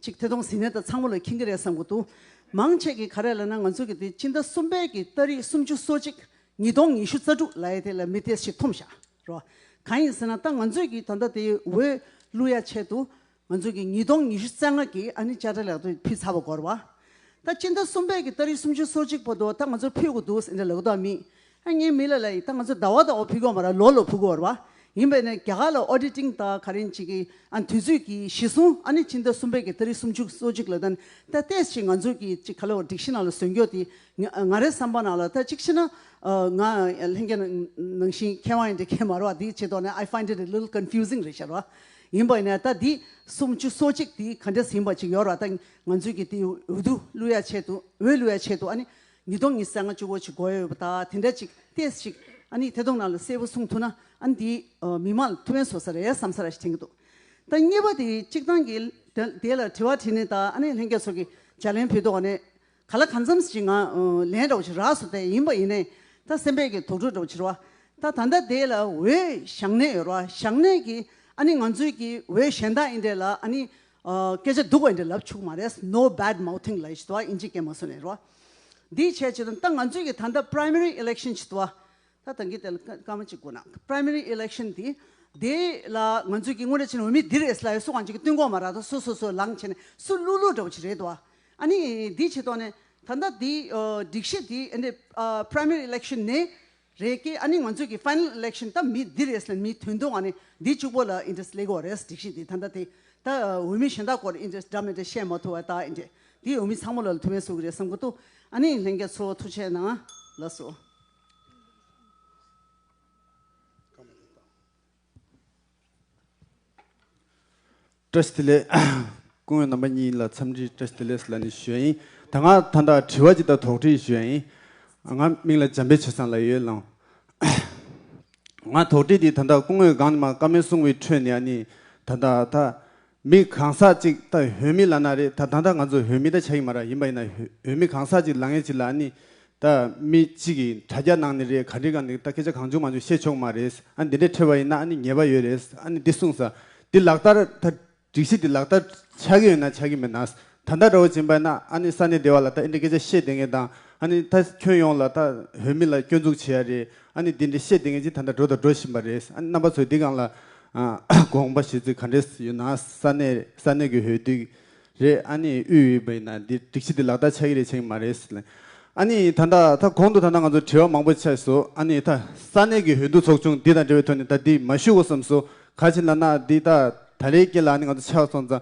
ཅིག་ཐད་གཏོང་ཟིན་ནས་ད་ཚང་མ་ལ་ཁེངས་ཀྱི་རེད་བསམ་གྱི་འདུག་མང་ཆེ་གི་ག་རེ་ལ་ན་ང་ཚོ་གི་དེ་སྤྱི་ཟླ་གསུམ་པའི་གི་ལྟ་རིགས་སུམ་ཅུ་སོ་གཅིག་ཉིས་སྟོང་ཉི་ཤུ་རྩ་དྲུག་ལའི་དེ་ལ་མི་དེ་ཞིག་འཐོམ་བཞག་རོགས་གང་ཡིན་ཟེར་ན་ད་ང་ཚོས་གི་ད་ལྟ་དེ་འོས་བསླུ་ཡ་ཆེད་དུ་ང་ཚོས་ཀྱི་ཉིས་སྟོང་ཉི་ཤུ་རྩ་ལྔ་ཀྱི་ཨ་ནི་བཅའ་ཁྲ་ལག་ཏུ་ཕུལ་ཚར་བ་གོར་བ། ད་སྤྱི་ཟླ་གསུམ་པའི་ཀྱི་ཏཱ་རིགས་སུམ་ཅུ་སོ་གཅིག་པོ་དོ་ད་ང་ཚོར་ཕུལ་དགོས་འདུག་ཟེར་འདྲ་ལ་གུ་དོག་མིན། ཨ་ངའི་མི་ལ་ལ་ཡིན་ད་ང་ཚོ་ཟླ་བ་དང་བོ་ཕུལ་གོར་བ་ར་ལོ་ལོ་ཕུལ་གོར་བ། ཡིན་པས་ན་རྒྱ་གར་ལ Auditing ད་ག་རེན་བྱེད་ཀྱི་ཨ་དུས་ཚོད་ཀྱི་གཞི་བཟུང་ཨ་ནི་སྤྱི་ཟླ་གསུམ་པའི་ཀྱི་ཏཱ་རིགས་སུམ་ཅུ་སོ་གཅིག་ལ་ད་ནི་ད་ཏེས་ཀྱི་ང་ཚོ་ཀྱི་ཅི་ག་ལ་བ་སྒྲིག་གཞི་ནང་ལ་ཟོན་རྒྱོ་དེ་ང་རའི་བསམ་པ་ནང་ལ་ད་གཅིག་བྱེད་ན་ང་ལྷན་རྒྱ་ནང་བཞིན་མཁས་དབང་ཡིན་འདྲ་ཁས་མ་ར་བ་དེ་བྱེད་དོགས་ནས I find it a little confusing རེད་ཤར་བ། ཡིན་པ་ནས་ད་འདི་སུམ་བཅུ་སོ་གཅིག་དེ་ག་འདྲས་ཟིན་པ་ཅིག་ཡོད་ར་ད་ང་ཚོས་ཀྱི་དེ་འོས་བསྡུ་བསླུ་ཡ་ཆེད་དུ་འོས་བསླུ་ཡ་ཆེད་དུ་ཨ་ནི་ཉིས་སྟོང་ཉིས་སེ་ང་བཅུ་བོ་ཅིག་དགོས་ཡོད་པ་ད་དེ་འདྲ་ཅིག་ཏེས་ཅིག་ཨ་ནི་དེ་དོང་ན་ལ་གསལ་བོ་གསུང་ཐུ་ན་ཨ་ནི་དེ་མི་མ་ལ་ཐུ་བན་བཟོ་ས་རེད་བསམ་ས་ར་ཞིག་དྲན་གྱི་འདུག་ད་གཉིས་པ་དེ་གཅིག་ཐང་གི་དེ་ལ་དྲི་བ་དྲིས་ནས་ད་ཨ་ནི་ལྷན་རྒྱས་ཚོགས་ཀྱི་ལྗགས་ལན་ཕུལ་དོག་ནས་ག་ལ་ག་འཚམས་ཤིག་ང་ལན་སྒྲོག་བྱེད་རགས་སུ་དེ་ཡིན་པ་ཡིན་ནས་ད་སེམས་པས་ཀྱི་དོགས་དྲོད་སྒྲོག་བྱེད་རོགས་ད་ད་ལྟ་དེ་ལ་འོས་ཞག་ནས་ཡོད་རོགས་ཞག་ནས་ཀྱི་ཨ་ནི་ང་ཚོས་ཀྱི་འོས་གཞན་དག་ཡིན་འདྲེ་ལ་ཨ་ནི་སྐད་ཆ་སྡུག་བ་ཡིན་འདྲེ་ལབ་ཆུག་མ་རེད no bad mouthing ལ་ཡི་ཤི་དོ་ཨ་ཨིན་ཇི་སྐད་མ་སོ་ནས་རོགས་འདི་བྱས་བྱས་དོན་ད་ང་ཚོས་ཀྱི་ད་ལྟ primary election བྱེད་དོ་ཨ་ད་ཐེངས་ཀྱི་དེ་ལ་སྐར་མ་གཅིག་དགོས་ན Primary Election དེ་དེ་ལ་ང་ཚོས་ཀྱི་དངོས་རེ་བྱས་ན་འོས་མི་འདིར་ཨེ་སླ་ཡོད་སུ་གང་ཅིག་གི་བསྟུན་གོང་མ་རག་ད་སུ་སོ་སོའི་ལངས་བྱས་ནས་སུ་བསླུ་བསླུ་འདྲ་བོ་ཅིག་རེད་འདུག་ཨ་ནི་དེ་བྱས་ཐོག་ནས་ད་ལྟ་དེ་སྒྲིག་གཞི་དེ་ཨ་ནི Primary Election ནས་རེད་ཀྱི་ཨ་ནི་ང་ཚོས་ཀྱི Final Election ད་མི་འདིར་ཨེ་སླ་ཡོད་མི་དོན་དུ་ཨ་ནི་དེ་གཅིག་པོ་ལ Interest ལེགས་འོག་རེད་སྒྲིག་གཞི་དེ་ད་ལྟ་དེ་ད་འོས་མི་གཞན་དག་སྐོར Interest འདྲ་མི་འདྲ་བཤད་མ་ཐུབ་བ་ད་ཨེ་འདྲས་དེ་འོས་མི་ཚང་མ་ལ་ལ་ཐུགས་ཕན་གསོ་གི་རེད་བསམ་གི་འདུག་ཨ་ནི་ལྷན་རྒྱས་ཚོ་ཐུགས་ཆེ་གནང་ལགས་སོ། ཀྲེ་སི་ཏི་ལེ། སྐུ་ངོས་རྣམ་པ་གཉིས་ལ་འཚམས་འདྲི་ཀྲེ་སི་ཏི་ལེས་ལ་ནི་ཞོལ་ཡིན་ད་ང་ད་ལྟ་དྲི་བ་ཅིག་དང་དོགས་འདྲི་ཞོལ་ཡིན་ང་མིང་ལ་འཇམ་དཔལ་བྱེ་སངས་ལ་ཡོད་ལང། ང་དོགས་འདྲི་འདི་ད་ལྟ་སྐུ་ངོས་སྒང་ནི་མ་དཀར་མོའི་སྲུང་བའི་ཁྲོད་ནས་ཨ་ནི་ད་ད་ད། མི་གང་ཟག་ཅིག་ད་བོད་མི་ལ་ན་རེ་ད་ད་ད་ང་ཚོ་བོད་མི་ད་ཆ་ཡིན་མ་ར་ཡིན་པ་ཡིན་ན་བོད་མི་གང་ཟག་ཅིག་ལ་ངས་ཅིག་ལ་ནི་ད་མི་གཅིག་གིས་དྲ་རྒྱ་ནང་ནི་རེད་ག་འདྲི་ག་འདི་ད་སྐད་ཆ་གང་བྱུང་མ་བྱུང་བཤད་ཆོག་མ་རེད་ཨ་འདི་འདྲས་ཁྲེལ་བ་ཡིན་ན་ཨ་ནི་ཉེས་པ་ཡོད་རེད་ཨ་ནི་འདི་གསུངས་ས་འདི་ལག་བསྟར་ད་སྒྲིག་གཞི་འདི་ལག་བསྟར་ཆག་གི་ཡོད་ན་ཆག་གི་མེད་ན་ད་ལྟ་ར་བ་འཛིན་པ་ན་ཨ་ནི་ས་ནས་བདེ་བ་ལ་ད་ཨི་འདྲ་སྐད་ཆ་བཤད་དེ་ངས་དང་ཨ་ནི་ད་ཁྱོད་ཡོང་ལ་ད་བོད་མི་ལ་སྐྱོན་འཛུགས་བྱེད་ཡ་རེད་ཨ་ནི་འདི་འདྲ་བཤད་དེ་ངས་ཅི་ད་ད་འགྲོ་ད་འགྲོ་བཞིན་པ་རེད་ཨ་ནི་རྣམ་པ་ཚོས་འདི་གང་ལ་དགོངས་པ་བཞེས་ཚུལ་ག་འདྲས་ཡོད་ན་ས་ནས་ས་ནས་གི་ཧོས་དུས་རེད་ཨ་ནི་དབུས་ཡོད་པ་ཡིན་ན་འདི་སྒྲིག་གཞི་འདི་ལག་བསྟར་ཆགས་ཀྱི་རེད་བྱས་ཀྱི་མ་རེད་ལན། ཨ་ནི་ད་ད་ད་གོང་དུ་ད་ད་ང་ཚོར་དྲི་བ་མང་པོ་ཆགས་སོ་ཨ་ནི་ད་ས་གནས་ཀྱི་ཧོས་འདུ་ཚོགས་ཆུང་འདི་དང་འབྲེལ་བའི་ཐོག་ནས་ད་འདི་མ་ཞུ་གོ་བསམ་སོ་ག་བྱས་ན་ན་འདི་ད་ད་ལའི་སྐད་ལ་ཨ་ནི་ང་ཚོ་ཆགས་སོང་ཙང་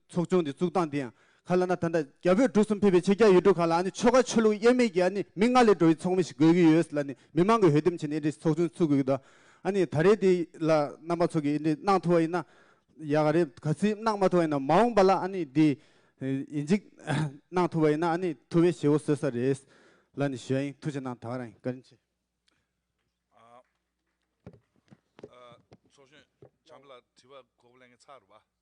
ཚོགས་ཆུང་དེ་བཙུགས་སྟངས་དེ་ཡང་ག་ལ་ན་ད་ལྟ་རྒྱ་བོད་འབྲུག་གསུམ་ཕེབས་པའི་ཕྱི་རྒྱ་ཡུལ་གྲུ་ཁག་ལ་ཨ་ནི་ཆོལ་ཁ་ཆོས་ལུགས་དབྱེར་མེད་ཀྱི་ཨ་ནི་མི་ལྔ་ལས་འགྲོ་བའི་ཚོགས་མི་ཞིག་དགོས་ཀྱི་ཡོད་ལ་ནི་མི་མང་གི་འོས་འདེམས་བྱས་ནས་ཨེ་འདྲའི་ཚོགས་ཆུང་ཚུགས་དགོས་ཀྱི་འདུག་ཨ་ནི་ད་རེས་དེ་ལ་རྣམ་པ་ཚོགས་ཀྱི་ཨེ་འདྲའི་གནང་ཐུབ་བ་ཡིན་ན་ཡག་ག་རེད་ག་ཚིག་གནང་མ་ཐུབ་བ་ཡིན་ན་མ་འོངས་པ་ལ་ཨ་ནི་དེ་ཡིན་གཅིག་གནང་ཐུབ་བ་ཡིན་ན་ཨ་ནི་ཐུབ་བའི་ཞེ་བོ་བཟོས་ས་རེད་ལ་ནི་ཞོལ་ཡིན་ཐུགས་ཆེ་གནང་ད་ག་རང་ཡིན་བཀའ་དྲིན་ཆེ། ཚོགས་གཞོན་བྱམས་པ་ལགས་དྲི་བ་གོ་བ་ལེན་གི་ཚར་རོ་བ།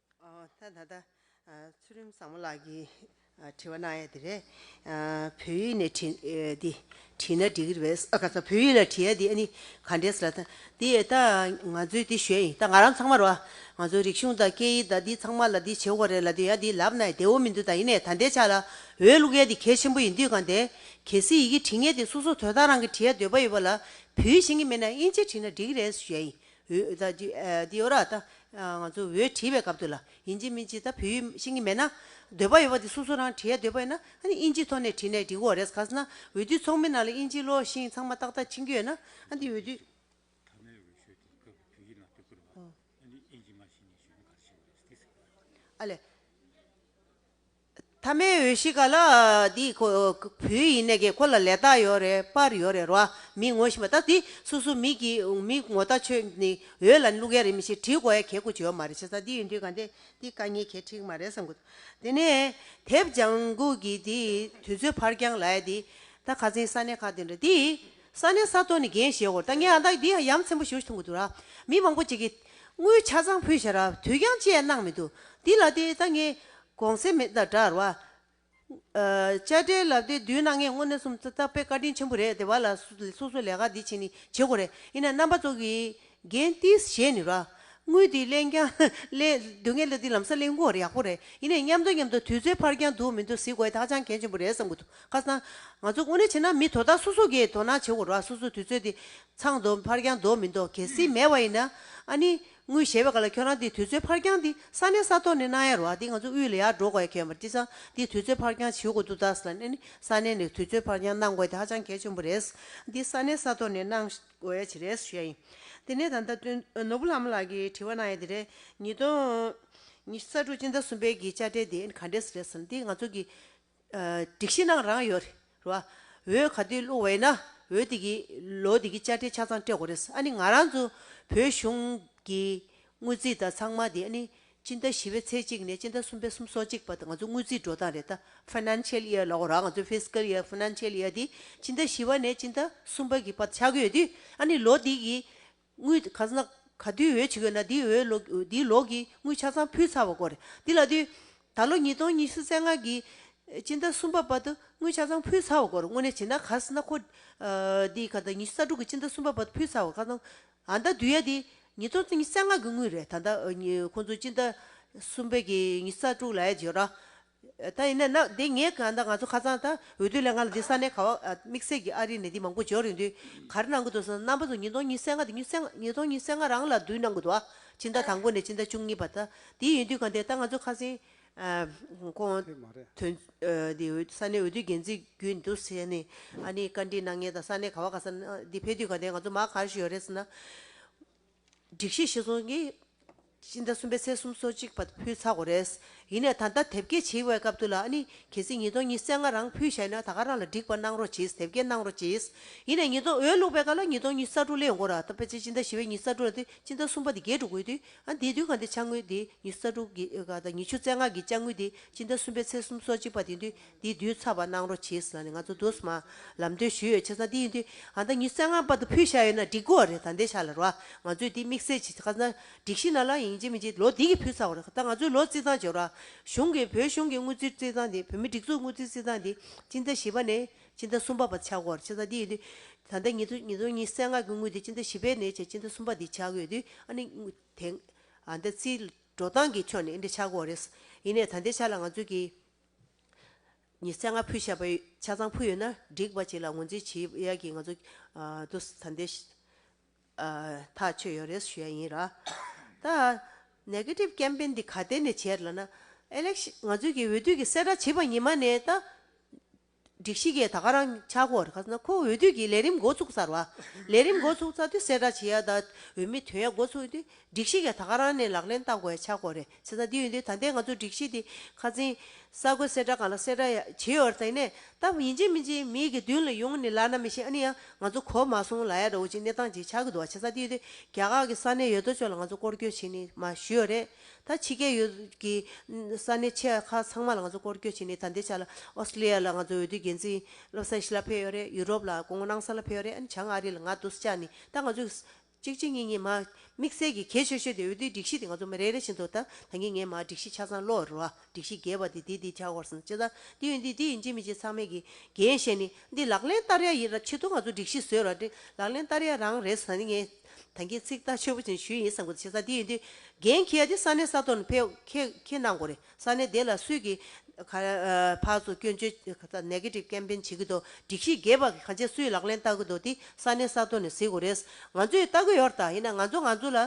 ད་ལྟ་ཚུལ་རིམ་བཟང་མོ་ལགས་ཀྱིས་དྲི་བ་གནང་ཡ་དེ་རེད། བོད་ཡིག་ནས་དྲི་འདི་བྲིས་ན་འགྲིག་གི་རེད། ག་ཚ་བོད་ཡིག་ལ་བྲིས་ཡ་དེ་ཨ་ནི་ག་འདྲས་ལ་ད། དེ་ད་ང་ཚོའི་དེ་ཞོལ་ཡིན་ད་ང་རང་ཚང་མར་བ། ང་ཚོའི་རིག་གཞུང་དང་སྐད་ཡིག་དང་འདི་ཚང་མ་ལ་འདི་བྱེད་འོ་རེད་ལ་དེ་ཡ་དེ་ལབ་ན་ཡ་བདེ་འོ་མི་འདུག་ད་ཡིན་ནའི་ད་འདས་ཆགས་ལ་འོས་བླུག་ཡ་དེ་གལ་ཆེན་པོ་ཡིན་དུས་གང་འདས། གལ་སྲིད་ཡི་གེ་བྲིས་ངེས་དེ་སོ་སོ་དོལ་ཐང་རང་གི་བྲིས་ཡ་འདོད་པ་ཡོད་པ་ལ་བོད་ཡིག་ཤེས་ཀྱི་མེད་ན་ཨིན་ཇི་བྲིས་ན་འགྲིག་གི་རེད་ཞོལ་ཡིན་འོད་ད་འདི་འདི་འོ་ར་ད། ང་ཚོ་འོད་བྲིས་པའི་སྐབས་དུ་ལ་ཡིན་གཅིག་མིན་གཅིག་ད་བོད་ཡིག་ཤེས་ཀྱི་མེད་ན། འདོད་པ་ཡོད་པ་དེ་སོ་སོ་རང་བྲིས་ཡ་འདོད་པ་ཡོད་ན་ཨ་ནི་དབྱིན་ཇིའི་ཐོག་ནས་བྲིས་ནས་འགྲིག་གོ་རེས་ག་ས་ན་འོས་བསྡུའི་ཚོགས་མི་རྣམས་ལ་དབྱིན་ཇིའི་བློ་ཞིང་ཚང་མ་ཏག་ཏག་ཕྱིན་རྒྱུ་ཡོད་ན་ཨ་འདི་འོས་བསྡུ། མཐའ་མའི་འོས་ཤོག་དེ་སྐབས་བོད་ཡིག་ནང་བསྟོད་བསྐུར་བ། ཨ་ནི་དབྱིན་ཇི་མ་ཤེས་ནས་གཞོན་ནུ་ག་རེ་བྱས་པ་རེད་ཟེར་གི་ཟེར་གི་ཡོད། ཨ་ལས། ཐ་མའི་འོས་གཞི་ག་ལ་འདི་ཁོ་བོའི་ཡིན་ནས་ཀྱི་ཁོ་ལ་ལས་རྟགས་ཡོད་རེད་པར་ཡོད་རེད་རོ་ཨ་མི་ངོ་ཤེས་པ་ད་འདི་སུ་སུ་མི་གི་མི་ངོ་ལྟ་ཆོས་ནི་འོས་ལ་ལུག་ཡ་རེད་མི་ཤེས་བྲིས་གོ་ཡ་གས་ཁུ་བྱེད་ཡོད་མ་རེད་བྱས་ཙང་འདི་ཡོད་འདི་ག་འདི་འདི་དཀའ་ངལ་གས་ཁྲིག་མ་རེད་བསམ་གོ་དེ་ནས་དེབ་ལྗང་གུ་གི་འདི་དུས་ཚོད་ཕར་རྐྱང་ལ་ཡ་འདི་ད་ག་ཚེན་ས་གནས་ཁག་འདི་འདྲ་འདི་ས་གནས་ས་ཐོ་ནི་རྒན་བཞེས་གོ་ད་ངས་ཨ་ད་འདི་ཡམ་ཚན་པོ་ཞུ་ཐུང་གི་འདུག་ར་མི་མང་པོ་ཅིག་གི་དངུལ་ཆ་ཚང་ཕུལ་བྱས་ར་དུས་རྐྱང་བཅས་གནང་མི་འདུག་འདི་ལ་དེ་ད་ངས་གོང་གསལ་མེད་དང་འདྲ་བར། བཅའ་ཁྲའི་ལབ་དེ་བསྡུས་ན་ངས་དངོས་གནས་སུམ་རྩ་བརྟག་པའི་བཀའ་དྲིན་ཆེན་པོ་རེད་དེ་བ་ལ་སོ་སོ་ལས་ཀ་འདི་བྱེད་ནི་བྱེད་དགོས་རེད་ཡིན་ན་རྣམ་པ་ཚོ་གི་རྒན་ཏིས་བཞེས་ནི་ར། དངུལ་འདི་གླེང་རྐྱང་གླེང་སྡུག་ངས་ལ་འདི་ལམ་སར་གླེང་དགོས་རེད་ཡག་པོ་རེད་ཡིན་ནས་མཉམ་འདུག་མཉམ་འདུག་དུས་ཚོད་ཕར་འགྱངས་འདུག་མི་འདུག་ཟིག་དགོས་ཐག་ཆང་གལ་ཆེན་པོ་རེད་བསམ་གི་འདུག་ཁ་སང། ང་ཚོ་དངོས་གནས་བྱེད་ན་མི་དོ་བདག་སོ་སོ་གིས་དོ་སྣང་བྱེད་དགོས་ར་སོ་སོ་དུས་ཚོད་འདི་ཚང་འདུག་ཕར་འགྱངས་འདུག་མི་འདུག་གལ་སྲིད་མེད་པ་ཡིན་ན་ཨ་ནི། ངུ་ཞེས་པའི་ག་ལ་ཁྱོད་རང་འདི་དུས་ཚོད་ཕར་འགྱངས་འདི་ས་གནས་ས་ཐོག་ནས་གནང་ཡ་རོགས་ཨ་འདི་ང་ཚོ་དབུས་ལ་ཡར་འགྲོ་དགོས་ཡ་ཁྱོད་པར་ཏི་ཚང་འདི་དུས་ཚོད་ཕར་འགྱངས་བྱེད་དགོས་འདུག་དྭགས་ས་གནས་ནས་ས་གནས་ནས་དུས་ཚོད་ཕར་འགྱངས་གནང་དགོས་དེ་ཧ་ཅང་གལ་ཆེན་པོ་རེད་འདི་ས་གནས་ས་ཐོག་ནས་གནང་དགོས་ཡ་བྱེད་རེད་ཞུ་ཡ་ཡིན་དེ་ནས་ད་ལྟ་དོན་ནོར་བུ་ལགས་མོ་ལགས་ཀྱིས་དྲི་བ་གནང་ཡ་དེ་རེད་ཉིས་སྟོང་ཉི་ཤུ་རྩ་དྲུག་སྤྱི་ཟླ་གསུམ་པའི་གི་བཅའ་ཁྲལ་དེ་ག་འདྲས་རེད་ཟེར་འདི་ང་ཚོ་གི། སྒྲིག་གཞི་ནང་རང་ཡོད་རེད་བ། འོད་ག་དུས་བླུག་བས་ན་འོད་དེ་གི་ལོ་དེ་གི་དཔྱ་ཁྲལ་ཆ་ཚང་སྤྲད་དགོས་རེད། ཨ་ནི་ང་རང་ཚོ་བོད་གཞུང་གི་དངུལ་རྩིས་དང་ཚང་མ་དེ་ཨ་ནི་སྤྱི་ཟླ་བཞི་བའི་ཚེས་གཅིག་ནས་སྤྱི་ཟླ་གསུམ་པའི་གསུམ་སོ་གཅིག་བར་དུ་ང་ཚོ་དངུལ་རྩིས་འགྲོ་སྟངས་རེད་ད Financial Year ལ་འོ་ར་ང་ཚོ Fiscal Year Financial Year དེ་སྤྱི་ཟླ་བཞི་བ་ནས་སྤྱི་ཟླ་གསུམ་པ་གི་བར་དུ་ཆགས་ཀྱི་ཡོད་དུས་ཨ་ནི་ལོ་དེ་གི་དངུལ་ག་ཚོད་ན་ག་དུས་འོས་བྱེད་དགོས་ན་འདིའི་འོས་ལོག་འདིའི་ལོག་གི་དངུལ་ཆ་ཚང་ཕུལ་ཚར་བ་སྐོར་རེད། འདི་ལ་དུས། ད་ལོ་ཉིས་སྟོང་ཉི་ཤུ་རྩེ་ལྔ་གི། སྤྱི་ཟླ་གསུམ་པ་བར་དུ་དངུལ་ཆ་ཚང་ཕུལ་ཚར་བ་སྐོར་དངོས་གནས་བྱེད་ན་ག་ཚོད་ན་ཁོ། འདིའི་ག་ཟླ་ཉི་ཤུ་རྩ་དྲུག་གི་སྤྱི་ཟླ་གསུམ་པ་བར་དུ་ཕུལ་ཚར་བ་ག་ཚང། ཨ་མདའ་དུས་ཡ་དེ་ཉིས་སྟོང་ཉི་རྩེ་ལྔ་གི་དངུལ་རེད་ད་ལྟ་ཁོང་ཚོ་སྤྱི་ཟླ་གསུམ་པའི་གི་ཉི་ཤུ་རྩ་དྲུག་ལ་ཡ་རྗེས་ར། ད་ཡིན་ན་ནའདེ་ངས་གང་ལྟར་ང་ཚོ་ཁ་ཚང་ད་འོས་བསྡུ་ལས་ང་ལ་འདི་ས་གནས་ག་བ་དམིགས་བསལ་གྱི་ཨ་རིའི་ནད་དེ་མང་པོ་འབྱོར་ཡོད་དུས་ག་རེ་གནང་གི་འདུག་ཟེར་ན་རྣམ་པ་ཚོ་ཉིས་སྟོང་ཉིས་སེ་ལྔ་དང་ཉིས་སྟོང་ཉིས་སེ་ལྔ་རང་ལ་བསྡུ་གནང་གི་འདུག་ཨ་ཕྱི་ཟླ་དང་པོ་ནས་ཕྱི་ཟླ་བཅུ་གཉིས་བར་ད་དེ་ཡིན་དུས་ག་འདི་ད་ང་ཚོ་ཁ་སེང་ཁོང་དོན་འདི་འོས་ས་གནས་འོས་བསྡུ་འགན་འཛིན་རྒྱུ་འདུག་ཟེར་ནས་ཨ་ནི་བཀའ་འདྲི་གནང་ངེས་ད་ས་གནས་ག་བ་ག་ས་ནའདི་ཕེབས་དུས་ག་འདི་ང་ཚོ་མ་ག་རེ་ཞུ་ཡོད་རེད་ཟེར་ན། སྒྲིག་གཞི་ཤེས་ཚོང་གི་སྤྱི་ཟླ་གསུམ་པའི་ཚེས་གསུམ་སོ་གཅིག་བར་ཕུལ་ཚར་གོ་རེད། ཡིན་ནས་ད་ལྟ་དེབ་སྐྱེལ་བྱེད་དབའི་སྐབས་དུ་ལ་ཨ་ནི་གལ་སྲིད་ཉིས་སྟོང་ཉིས་བརྩེགས་ང་རང་ཕུལ་ཤེས་ན་ད་ག་རང་ལ་སྒྲིག་པ་གནང་རོགས་གྱིས་དེབ་སྐྱེལ་གནང་རོགས་གྱིས། ཡིན་ནས་ཉིས་སྟོང་འོས་བླུགས་པའི་སྐབས་ལ་ཉིས་སྟོང་ཉིས་རྩ་དྲུག་ལས་འགོར་ད་ཕལ་ཆེར་སྤྱི་ཟླ་བཞི་བའི་ཉིས་རྩ་དྲུག་ལ་དེ་སྤྱི་ཟླ་གསུམ་པ་དེ་རྒྱས་འགྲོ་དགོས་དུས་ཨ་དེའི་དུས་གང་དེ་ཆ་དངུལ་དེ་ཉིས་རྩ་དྲུག་གི་ཉིས་བཅུ་རྩེགས་ལྔ་གི་ཆ་དངུལ་དེ་སྤྱི་ཟླ་གསུམ་པའི་ཚེས་གསུམ་སོ་གཅིག་བར་དེ་དུས་འདི་བསྡུས་ཚར་བ་གནང་རོགས་གྱིས་ཟེར་ན་ནི་ང་ཚོ་རྡོ་སི་མ་ལམ་སྟོན་ཞུས་ཡོད་ཆེ་ས་འདི་ཡིན་དུས་ང་ད་ཉི་གསལ་ངང་པར་དུ་ཕུལ་བཞག་ཡོད་ན་འགྲིག་གོ་རེད་ད་འདས་ཤག་ལ་རོགས་ང་ཚོས་འདི་དམིགས་བསལ་གྱིས་ཁ་ན་སྒྲིག་ཤིག་ན་ལ་ཡིན་གཅིག་མིན་གཅིག་ལོ་འདི་གི་ཕུལ་ཚར་བ་རེད་ད་ང་ཚོའི་ལོ་རྩིས་ཚང་བརྗོད་རོགས་གཞུང་གིས་བོད་གཞུང་གི་དངུལ་རྩིས་རྩིས་ཚང་འདི་བོད་མི་སྒྲིག་འཛུགས་དངུལ་རྩིས་རྩིས་ཚང་འདི་སྤྱི་ཟླ་བཞི་པ་ནས་སྤྱི་ཟླ་གསུམ་པ་བར་ཆག་གོ་རེད་ཆེ་ས་འདི་ཡིན་དུས་ད་ལྟ་ཉིས་སྟོང་ཉིས་སྟོང་ཉི་གསལ་ངང་གི་དངུལ་འདི་སྤྱི་ཟླ་བཞི་པའི་ནས་བཅས་སྤྱི་ཟླ་གསུམ་པ་འདི་ཆག་གི་ཡོད་དུས་ཨ་ནི་དེ་ཨ་ད་རྩིས་འགྲོ་སྟངས་ཀྱི་ཕྱོགས་ནས་འདི་ཆག་གོ་རེད་ཡིན་ནས་ད་འདས་ཤག་ལ་ང་ཚོས་གི། ཉི་ཚེ་ལྔ་ཕུད་བཤད་པ་ཆ་ཚང་ཕུལ་ཡོད་ན་འགྲིག་པ་ཅིག་ལ་ངོས་འཛིན་བྱེད་ཡ་གི་ང་ཚོ་ད་འདི་ཐག་ཆོད་ཡོད་རེད་ཞུ་ཡ་ཡིན་ར། ད Negative Campaign འདི་ག་སྟེང་ནས་བྱས་ལ་ན། Election ང་ཚོའི་གི་འོས་བསྡུ་གི་གསལ་བསྒྲགས་བྱས་པ་ཉིན་མ་ནས་ད། སྒྲིག་གཞི་གས་ད་ག་རང་ཆག་གོ་རེ་ཁ་སང་ཁོ་འོས་བསྡུ་གི་ལས་རིམ་འགོ་ཚུགས་ཚར་བ། ལས་རིམ་འགོ་ཚུགས་ཚར་དུས་གསལ་བསྒྲགས་བྱེད་ཡ་ད་འོས་མི་དོན་ཡ་འགོ་ཚུགས་དུས་སྒྲིག་གཞི་གས་ད་ག་རང་ནས་ལག་ལེན་བསྟར་གོ་ཡ་ཆག་གོ་རེ་བྱེད་ས་དེ་ཡོད་དུས་ད་ལྟའི་ང་ཚོ་སྒྲིག་གཞི་དེ་ཁ་ཚིན། གསར་འགོད་གསལ་བསྒྲགས་ག་ལ་གསལ་བསྒྲགས་ཡ་བྱེད་ཡོད་ད་ནས་ད་ཡིན་ཅིག་མིན་ཅིག་མི་ཡི་གི་མདུན་ལ་ཡོང་ནི་ལ་ན་མི་ཤེས་ཨ་ནི་ཡ་ང་ཚོ་གོ་མ་སོང་ལ་ཡ་འདྲ་བོ་ཅིག་གནས་སྟངས་ཅིག་ཆག་གི་འདུག་བ་བྱེད་ས་དེ་ཡོད་དུས་རྒྱ་གར་གི་ས་གནས་ཡོད་དོ་ཅོག་ལ་ང་ཚོ་སྐོར་སྐྱོད་བྱེད་ནི་མ་ཞུས་ཡོད་རེད། ད་ཕྱི་སྐད་ཡུལ་གྱི་ས་གནས་ཆེ་ཁག་ཚང་མ་ལ་ང་ཚོ་སྐོར་སྐྱོད་བྱས་ནས་ད་འདས་ཆགས་ལ Australia ལ་ང་ཚོ་འོས་བསྡུའི་འགན་འཛིན་སློབ་ས་ཤི་ལ་ཕེབས་ཡོད་རེད Europe ལ་དགོང་མོ་གནང་ས་ལ་ཕེབས་ཡོད་རེད་ཨ་ནི་བྱང་ཨ་རི་ལ་ང་འདུག་ཅག་ནི་ད་ང་ཚོས་གཅིག་གཅིག་གཉིས་གཉིས་མ་དམིགས་བསལ་གྱི་གལ་ཆེ་ཤོས་དེ་འོས་བསྡུའི་སྒྲིག་གཞི་དེ་ང་ཚོ་མི་རེ་རེ་བཞིན་དུ་ད་ད་ངེས་ངེས་མ་སྒྲིག་གཞི་ཆ་ཚང་བློ་རུ་བ་སྒྲིག་གཞི་རྒྱས་པ་དེ་དེ་དེ་ཆགས་སྐོར་སོང་ཅི་ད་འདི་ཡོད་འདི་འདི་ཡིན་ཅི་མི་ཅི་ཚང་མས་གི་འགན་བཞེས་ནི་འདི་ལག་ལེན་བསྟར་ཡ་ཡིན་ར་ཆེད་དུ་ང་ཚོ་སྒྲིག་གཞི་བཟོས་ར་འདི་ལག་ལེན་བསྟར་ཡ་རང་རེད་ད་ནི་ངས། ད་གིན་ཚིག་ཐག་ཆོད་པོ་ཅིག་ཞུས་ཡིན་བསམ་གི་འདུག་བྱས་ཙང་དེ་ཡིན་དུས་རྒན་ཁྱེད་དེ་ས་གནས་ས་ཐོག་ནས་ཕེབས་ཁྱེད་གནང་དགོས་རེད་ས་གནས་དེ་ལ་སུས་ཀྱི་ཕག་ཚོ་སྐྱོན་བརྗོད Negative Campaign བྱེད་ཀྱི་འདུག་སྒྲིག་གཞི་རྒྱས་པ་གང་ཆེ་སུས་ལག་ལེན་བསྟར་གྱི་འདུག་དེ་ས་གནས་ས་ཐོག་ནས་གཟིགས་དགོས་རེད་ང་ཚོས་བལྟ་གི་ཡོད་རེད་ད་ཡིན་ན་ང་ཚོ་ང་ཚོ་ལ་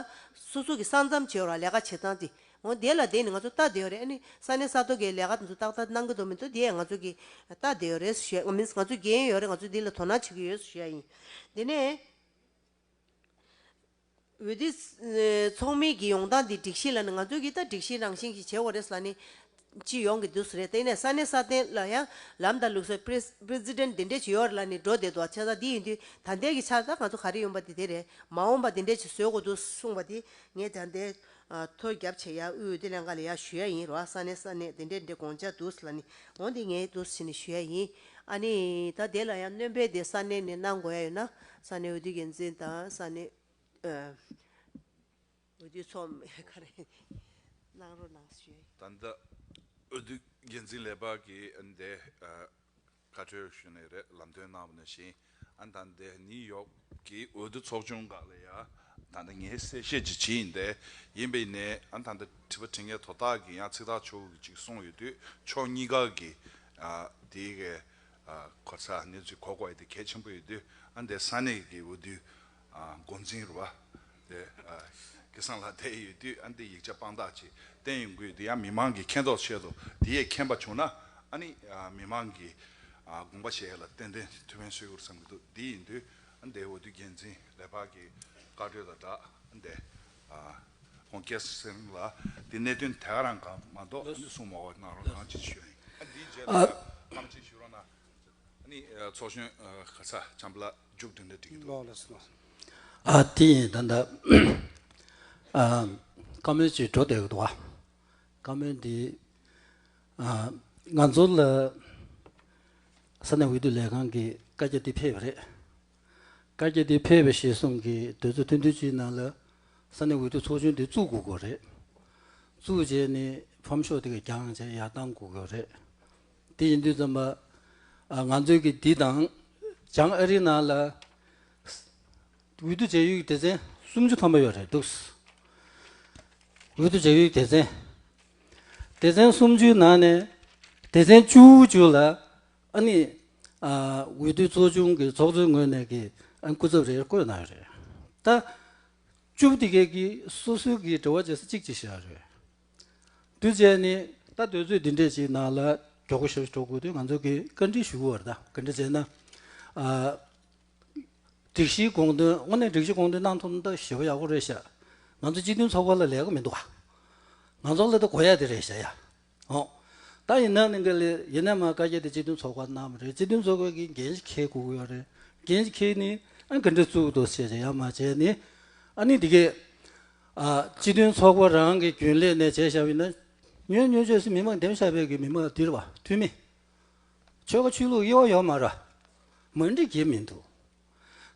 སོ་སོ་གི་ས་མཚམས་བྱེད་རོགས་ལས་ཀ་བྱས་ཙང་དེ་འོན་དེ་ལ་དེ་ནི་ང་ཚོ་བལྟ་དེ་ཡོད་རེད་ཨ་ནི་ས་གནས་ས་ཐོག་གི་ལས་ཀ་དེ་ཚོ་ཏག་ཏག་གནང་གི་འདུག་མི་འདུག་དེ་ཡང་ང་ཚོ་གི་བལྟ་དེ་ཡོད་རེད་ཞུས་ཡ་ཡིན Means ང་ཚོ་རྒན་ཡོད་རེད་ང་ཚོ་དེ་ལ་དོ་སྣང་བྱེད་ཀྱི་ཡོད་ཞུས་ཡ་ཡིན་དེ་ནས། འོད་དེ། ཚོགས་མི་གི་ཡོང་སྟངས་འདི་སྒྲིག་གཞི་ལ་ནི་ང་ཚོ་གིས་ད་སྒྲིག་གཞི་རང་བཞིན་གྱིས་བྱེད་འོ་རེད་ས་ནི། སྤྱི་ཡོངས་ཀྱི་དུས་སུ་རེད་དེ་ནས་ས་གནས་སྲ་བརྟན་ལ་ཡང་ལམ་དང་ལུགས་སྲོལ President འདི་འདྲས་ཇི་ཡོད་ལ་ནི་འགྲོ་བསྡད་འདུག་བྱས་ཙང་འདི་ཡིན་དུས་ད་ལྟའི་གི་ཆར་ད་ང་ཚོ་ག་རེ་ཡོང་པ་འདི་དེ་རེད་མ་འོངས་པ་འདི་འདྲས་ཀྱི་བཟོས་དགོས་འདུག་གསུངས་པ་དེ་ངས་ད་ལྟའི་ཐོ་རྒྱབ་བྱས་ཡ་ཨུའི་དེ་ལས་འགའ་ལས་ཡ་ཞུ་ཡ་ཡིན་རོ་ས་ནས་ས་ནས་དེ་འདྲས་འདྲས་དགོངས་འཇགས་འདུག་ལ་ནི་འོ་འདི་ངའི་འདུག་ཟེར་ནས་ཞུ་ཡ་ཡིན་ཨ་ནི་ད་དེ་ལ་ཡང་སྣོན་སྤེལ་དེ་ས་གནས་ནས་གནང་དགོས་ཡ་ཡོད་ན་ས་གནས་འོས་བསྡུ་འགན་འཛིན་དང་ས་གནས་འོས་བསྡུ་ཚོགས་མི་འགའ་རེ་གནང་རོགས་གནང་ཞུ་ཡ་ཡིན། ད་འོས་བསྡུ་འགན་འཛིན་ལས་འབག་གིས་འདས། ཁ་ཕྲལ་ཞུས་ནས་རེད་ལམ་སྟོན་གནང་བ་ནི་བཞིན་ཨན་ད་ལྟ་ནིའུ་ཡོག་གི་འོས་བསྡུ་ཚོགས་ཆུང་འགའ་ལ་ཡང་ད་ལྟ་ངས་གསལ་བཤད་ཅིག་བྱེད་ཡིན་ཏེ་ཡིན་པའི་ནི་ཨན་ད་ལྟ་དྲི་བ་དྲི་ངའི་དོ་བདག་གིས་ཡང་ཚིག་ཐག་ཆོད་ཅིག་གསུངས་ཡོད་དུས་ཕྱོགས་གཉིས་ཀ་གི་དེའི་གོ་ས་གནས་ཚུལ་གོ་དགོས་དེ་གལ་ཆེན་པོ་ཡོད་དུས་ཨན་དེ་ས་གནས་ཀྱི་འོས་བསྡུའི་མགོ་འཛིན་རུ་བ་དེ་སྐལ་བཟང་ལགས་བསྡད་ཡོད་དུས་ཨ་འདི་ཡིག་ཆ་དཔང་རྟགས་ཀྱིས་བསྟན་ཡོང་དགོས་འདི་ཡང་མི་མང་གིས་མཁྱེན་རྟོགས་བྱེད་དོ་དེ་ཡས་མཁྱེན་པ་བྱུང་ན་ཨ་ནི་མི་མང་གིས་དགོངས་པ་བཞེས་ཡས་ལ་ཏན་ཏན་ཐུ་བྷན་སོད་ཡུག་རུ་བསམ་གྱི་འདུག་འདི་ཡིན་དུས་ཨ་འདའི་འོ་དུས་རྒྱལ་མཚན་ལས་འཕགས་ཀྱི་བཀའ་གྲོས་དང་སྦྲགས་ཨ་འདའི་ཁོང་སྐལ་བཟང་ལགས་འདི་གནད་དོན་དེ་ག་རང་གང་མ་གཏོགས་ཨ་འདི་གསུང་མ་བ་གནང་རོགས་གནང་ཅིག་ཞུ་ཨ་འདིའི་རྗེས་ལ་ཨ་ཕམ་ཅིག་ཞུ་རོགས་གནང་ཨ་ནི་ཚོགས་གཞོན་ག་ཚ་ལྕམ་ལགས། མཇུག་བསྡུ་འདྲ་འདྲི་གི་འདུག། ཨ་དེ་ཡིན་ད་ད། བཀའ་མོལ་ཅིག་འགྲོ་བསྡད་ཡོད་འདུག་བ། བཀའ་མོལ་འདི། ང་ཚོ་ལ། ས་གནས་འོས་བསྡུ་ལས་ཁང་གིས་བཀའ་རྒྱ་འདི་ཕེབས་པ་རེད། བཀའ་རྒྱ་འདི་ཕེབས་པ་ཞེས་གསུངས་གི་དོན་ཚོ་ཐུང་ཐུང་ཅིག་ནང་ལ། ས་གནས་འོས་བསྡུ་ཚོགས་ཆུང་འདི་བཙུགས་དགོས་དགོས་རེད། བཙུགས་རྗེས་ནི་ཕམ་ཤོག་དེ་ག་རྒྱང་བཅས་ཡར་བཏང་དགོས་དགོས་རེད། དེ་ཡིན་དུས་ཙམ་པ། ང་ཚོའི་གི་འདི་དང། བྱང་ཨ་རིའི་ནང་ལ། འོས་བསྡུ་བྱ་ཡུལ་གྱི་སྡེ་ཚན་སུམ་ཅུ་ཐམ་པ་ཡོད་རེད་འདུག། འོས་བསྡུ་བྱ་ཡུལ་གྱི་སྡེ་ཚན། སྡེ་ཚན་སུམ་ཅུའི་ནང་ནས། སྡེ་ཚན་བཅུ་བཅུ་ལ། ཨ་ནི། འོས་བསྡུ་ཚོགས་ཆུང་གི་ཚོགས་གཙོའི་ངོས་ནས་གི་ཨ་ནི་སྐུ་ཚབ་རེ་བསྐོས་གནང་ཡོད་རེད། ད། བཅུ་བདེ་གེ་གི་སོ་སོའི་གི་འབྲེལ་བ་བྱེད་ས་གཅིག་གཅིག་བྱས་ཡོད་རེད། དུས་བཅད་ནི་ད་དུས་ཚོད་འདི་འདྲའི་ཞིག་ནང་ལ་གྱོག་གུ་ཞིག་འགྲོ་དགོས་དུས་ང་ཚོ་གིས་བཀའ་འདྲི་ཞུ་བར་ད་ག་འདྲ་བྱས་ན། སྒྲིག་གཞིའི་དགོངས་དོན་དངོས་གནས་སྒྲིག་གཞི་དགོངས་དོན་གནང་ཐུབ་ན་ད་ཞེ་བོ་ཡག་པོ་རེད་ཤག་ང་ཚོ་སྤྱི་མཐུན་ཚོགས་པ་ལ་ལས་ཀ་མི་འདུག་ག་ང་ཚོ་ལ་ད་གོ་ཡ་དེ་རེད་ཤག་ཡ་ཨོ། ད་ཡིན་ན་ནི་འགའ་ལས་ཡིན་ན་མ་བཀའ་རྒྱ་དེ་སྤྱི་མཐུན་ཚོགས་པ་གནང་བ་རེད་སྤྱི་མཐུན་ཚོགས་པའི་གི་འགན་ཞིག་ཁེལ་དགོས་ཀྱི་ཡོད་རེད་འགན་ཞིག་ཁེལ་ནི་ཨ་ག་འདྲ་བཙུགས་འདུག་བྱས་བྱས་ཡ་མ་བྱས་ནི་ཨ་ནི་འདི་གས། སྤྱི་མཐུན་ཚོགས་པ་རང་གི་རྒྱུན་ལས་ནས་བྱས་བཞག་པའི་ན་ཉོན་མྱོས་བཅོས་སུ་མི་མང་འདེམས་བྱ་བའི་གི་མི་མང་དིར་བ་འཐུས་མི། ཆོལ་ཁ་ཆོས་ལུགས་དབྱེ་བ་ཡོག་མ་ར་མ་འདྲི་གི་མི་འདུག་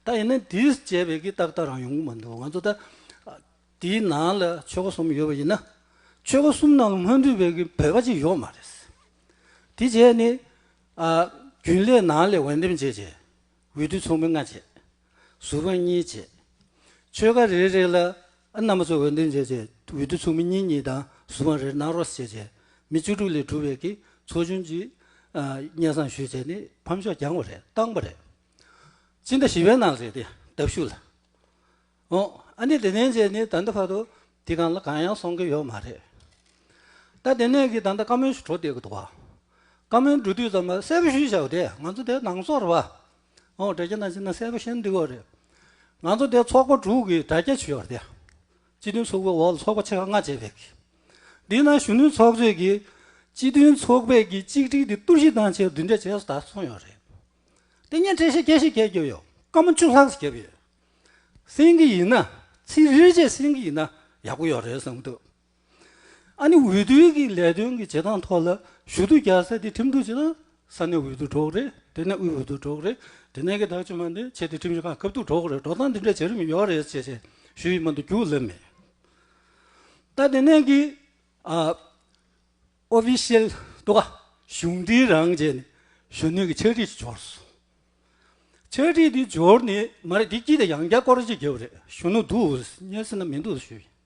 ད་ཡིན་ན་དིར་བཅས་པའི་གི་ཏག་ཏག་རང་ཡོང་གི་མ་འདུག་ང་ཚོ་ད་དིའི་ནང་ལ་ཆོལ་ཁ་གསུམ་ཡོད་པ་ཡིན་ན་ཆོལ་ཁ་གསུམ་ནང་ལ་སྔོན་འདུས་པའི་གི་བོད་པ་གཅིག་ཡོག་མ་རེད། དེ་བྱས་ནི་རྒྱུན་ལས་ནང་ལས་འོས་འདེམས་བྱས་བྱས་འོས་བསྡུ་ཚོགས་མི་ལྔ་བྱས། གཟུགས་རང་གཉིས་བྱས། ཆོས་ག་རེ་རེ་ལ་ཨ་རྣམ་པ་ཚོ་འོད་འདོན་བྱས་བྱས་འོད་དུ་ཚུགས་མི་གཉིས་གཉིས་དང་གཟུགས་རང་རེར་ནང་རོགས་བྱས་བྱས་མི་བཅུ་དྲུག་ལས་གྲུབ་བས་ཀྱི་ཚོགས་ཆུང་གཅིག་གཉེར་བསམ་ཞུས་བྱས་ནས་ཕམ་ཤོག་བརྒྱངས་པ་རེད་བཏང་པ་རེད། སྤྱི་ཟླ་བཞི་བའི་ནང་རེད་དེ་ལྟ་བཞུགས་ལ། ཨོ་ཨ་ནི་དེ་ནས་བྱས་ནས་ད་ལྟ་བར་དུ་དེ་གང་ལ་གང་ཡང་སོང་གི་ཡོད་མ་རེད། ད་དེ་ནས་ཀྱི་ད་ལྟ་བཀའ་མོལ་ཞུ་འཕྲོ་བསྡད་ཀྱི་འདུག་བ། བཀའ་མོལ་འགྲོ་དུས་ཙམ་ལ་གསལ་པོ་ཞུས་བྱའོ་དེ་ང་ཚོ་དེ་ནང་སོར་བ། ཨོ་དྲ་རྒྱ་ནང་ཆེ་ན་གསལ་པོ་ཤེས་འདུག་གོ་རེད། ང་ཚོ་འདིར་ཚོགས་པ་དྲུག་གིས་དྲ་རྒྱ་བྱོས་པ་དེ། སྤྱི་མཐུན་ཚོགས་པའི་འོག་ལ་ཚོགས་པ་ཆེ་ཁག་ལྔ་བྱས་པས། འདི་ན་གཞོན་ནུའི་ཚོགས་གཙོས་ཀྱིས། སྤྱི་མཐུན་ཚོགས་པས་ཀྱིས་གཅིག་སྒྲིལ་དེ་གཏུར་བཤིག་བཏང་ཕྱིར་བསྡུ་འདྲེ་བྱས་སུ་ད་སོང་ཡོད་རེད། དེ་ཉིན་གྲལ་བཤད་རྒྱས་བཤད་རྒྱས་རྒྱབ་ཡོད། སྐར་མ་བཅུ་ལྷག་རྒྱབ་ཡོད། སེང་གེ་ཡིན་ན་ཚིག་རེ་རེ་བཅད་སེང་གེ་ཡིན་ན་ཡག་པོ་ཡོད་རེད་བསམ་གྱི་འདུག། ཨ་ནི་འོས་བསྡུའི་གི་ལས་དོན་གི་བྱེད་སྟངས་ཐོག་ལ་ཞུ་གཏུག་རྒྱག་ས་དེ་ཁྲིམས་གཏུག་བྱེད་ན་ས་གནས་འོས་བསྡུ་གྲོགས་རེད་དེ་ནས་དབུས་འོས་བསྡུ་གྲོགས་རེད་དེ་ནས་གི་དག་ཆུ་མ་འདི་བྱེད་དེ་ཁྲིམས་གཞི་ཁག་སྐབས་གཏུག་གྲོགས་རེད་འགྲོ་སྟངས་འདི་འདྲ་བྱེད་རིན་མི་ཡོག་རེད་ཅེས་བྱས་ཞུ་ཡིག་མ་འདི་རྒྱུགས་སླེབས་མེད། ད་དེ་ནས་གི་ཨ་ཨོ་ཕི་ཤེལ་དུ་ག་གཞུང་འབྲེལ་རང་བཅས་ནས་གཞོན་ནུའི་གི་ཕྱག་བྲིས་ཅིག་འབྱོར་སོང། ཕྱག་བྲིས་འདི་འབྱོར་ནི་མ་རེད་འདི་སྐྱིད་དེ་ཡང་བསྐྱར་སྐོར་ཅིག་རྒྱབ་རེད་གཞོན་ནུ་འདུག་ཨོ་སྙེ་སེ་ན་མི་འདུག་ཞུ་ཡིན།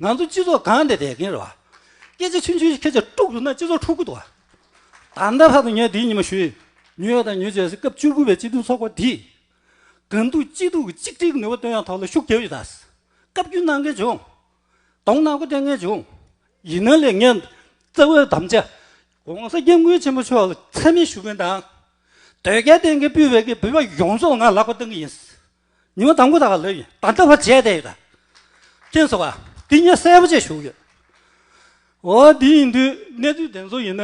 ང་ཚོ་སྤྱི་ཚོགས་སྒང་དེ་བསྡད་མཁན་རེད་བ། སྐད་ཆ་ཆུང་ཆུང་ཞིག་ཁྱེད་ཅག་དཀྲུགས་ཟུར་ན་སྤྱི་ཚོགས་འཁྲུག་གི་འདུག་བ། ད་ལྟ་བར་དུ་ངས་འདིའི་ཉི་མ་ཞུས་ཡོད། ཉུལ་བ་དང་ཉུལ་བྱེད་སའི་སྐབས་བཅུ་དགུ་པའི་སྤྱི་མཐུན་ཚོགས་པ་འདིས། སྒང་དུ་སྐྱིད་སྡུག་གི་གཅིག་སྒྲིལ་གྱི་ནུས་པ་བཏོན་ཡང་ཐོག་ལ་ཤུགས་རྒྱབ་ཡོད། བཀའ་བརྒྱུད་གནང་མཁན་བྱུང། གདོང་ནག་པོ་སྟོན་མཁན་བྱུང། ཡིན་ན་ལས་ངན། བཙན་བོའི་དམ་བཅའ། ྋགོང་ས ྋསྐྱབས་མགོན་ཆེན་པོ་མཆོག་ལ་ཚད་མེད་ཞུ་མཁན་དང། ཟློས་གར་བསྟན་མཁན་སྤུས་བེད་ཀྱི་འབུལ་བ་ཡོངས་རྫོགས་ང་ལག་པ་བཏང་གི་ཡིན། ཉི་མ་དང་པོ་དག་ལོས་ཡིན་ད་ལྟ་བར་བྱས་བསྡད་ཡོད་ད། ཅེས་སོགས་པ་དེ་ཉིད་གསལ་པོ་བཅས་བཞུགས་ཡོད། འོ་དེ་ཡིན་དུས་གནས་ཚུལ་དེ་ཚོ་ཡིན་ན་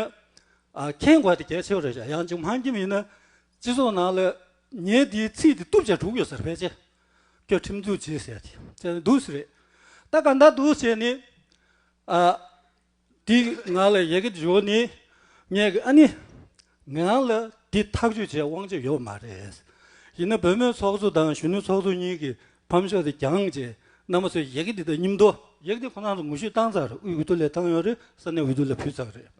མཁྱེན་དགོས་དེ་གལ་ཆེའོ་རེད་བྱ་ཡང་ཅིག་མང་ཁྱིམ་ཡིན་ན་སྤྱི་ཚོགས་ནང་ལ་ངའི་དེའི་ཚིག་དེ་གཏུབ་བྱས་དྲུག་ཡོད་ཟེར་ཕལ་ཆེར་ཁྱོད་ཁྲིམས་འཛུགས་བྱེད་ཟེར་ཡ་དེ་ཚོ་དུག་སུ་རེད་ད་ག་ད་དུག་བྱས་ནས་ཨ། འདི་ང་ལ་ཡི་གེ་འབྱོར་ནས་ངས་ཨ་ནི། ངའང་ལ་འདི་ཐག་གཅོད་བྱེད་དབང་ཆ་ཡོད་མ་རེད། ཡིན་ན་བོད་མིའི་ཚོགས་གཙོ་དང་གཞོན་ནུའི་ཚོགས་གཙོ་གཉིས་ཀྱི་ཕམ་ཤོག་དེ་གྱང་རྗེས་གནང་མ་ཚོས་ཡི་གེ་འདི་དག་སྙིམ་དོ། ཡི་གེ་འདི་ཁོ་ན་ཚོ་ངོ་བཤུས་བཏང་ཚར་དབུས་འོས་བསྡུ་ལས་བཏང་ཡོད་རེད་ས་གནས་འོས་བསྡུ་ལས་ཕུལ་ཚར་རེད།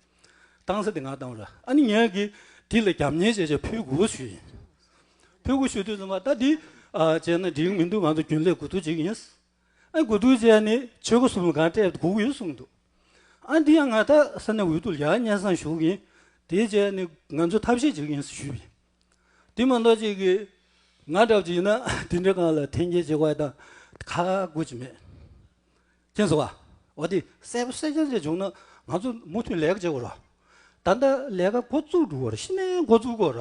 བཏང་ས་དེ་ང་བཏང་རེད་ཨ་ནི་ངས་གི་འདི་ལ་རྒྱབ་གཉེར་བྱེད་ཆེད་ཕུལ་དགོས་བཞུ་ཡིན། ཕུལ་དགོས་བཞུ་དུས་ཚོད་མ་ད་འདི་བྱས་ན་འགྲིག་མི་འདུག་ང་ཚོ་རྒྱུན་ལས་དགོས་ཐུག་ཅིག་ཡིན། ཨ་དགུ་སྡུག་བྱས་ནས་ཆོས་སྒོ་གསུམ་ལ་གང་སྤྲད་དགུག་ཡོད་གསུངས་འདུག་ཨ་འདི་ཡང་ང་དག་ས་གནས་འོས་བསྡུ་ལ་སྙན་བཟང་ཞུ་གི་ཡིན་དེའི་རྗེས་ནས་ང་ཚོས་ཐབས་ཤེས་བྱེད་ཀྱི་ཡིན་ཟེར་ཞུས་པ་ཡིན། དེ་མ་གཏོགས་ཅིག་གིས་ང་འདྲ་བ་ཅིག་ཡིན་ན་དེ་འདྲའི་སྒང་ལ་འཐེན་འཁྱེར་བྱེད་དགོས་དང་ཁ་དགོས་ཅིག་མེད། མཁྱེན་གསོལ་བ། འོ་དེ་གསལ་པོ་གསལ་རྐྱང་ཅིག་བྱུང་ན་ང་ཚོ་མུ་མཐུད་ལས་ཀ་བྱེད་དགོས་ར། ད་ལྟ་ལས་ཀ་འགོ་བཙུགས་འགྲོ་གི་ར་ཤི་ནའི་འགོ་བཙུགས་དགོས་ར།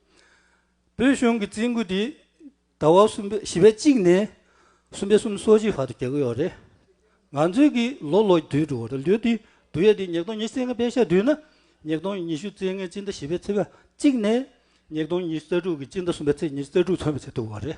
བོད་གཞུང་གི་རྩིས་འགོ་འདི་ཟླ་བ་གསུམ་པའི་བཞི་པའི་གཅིག་ནས་གསུམ་པའི་གསུམ་སོ་གཅིག་བར་དུ་རྒྱག་གི་ཡོད་རེད། ང་ཚོའི་གི་ལོ་ལོ་དུས་དྲུག་རེད་ལོ་དུས་དུས་ཡས་དུས་ཉིས་སྟོང་ཉིས་བརྩེགས་ལྔ་པའི་ཞག་དུས་ན་ཉིས་སྟོང་ཉི་ཤུ་བརྩེགས་ལྔའི་སྤྱི་ཟླ་བཞི་པའི་ཚེས་པ་གཅིག་ནས་ཉིས་སྟོང་ཉི་ཤུ་རྩ་དྲུག་གི་སྤྱི་ཟླ་གསུམ་པའི་ཚེས་ཉི་ཤུ་རྩ་དྲུག་ཚུན་པའི་ཚེ་དུ་བ་རེད།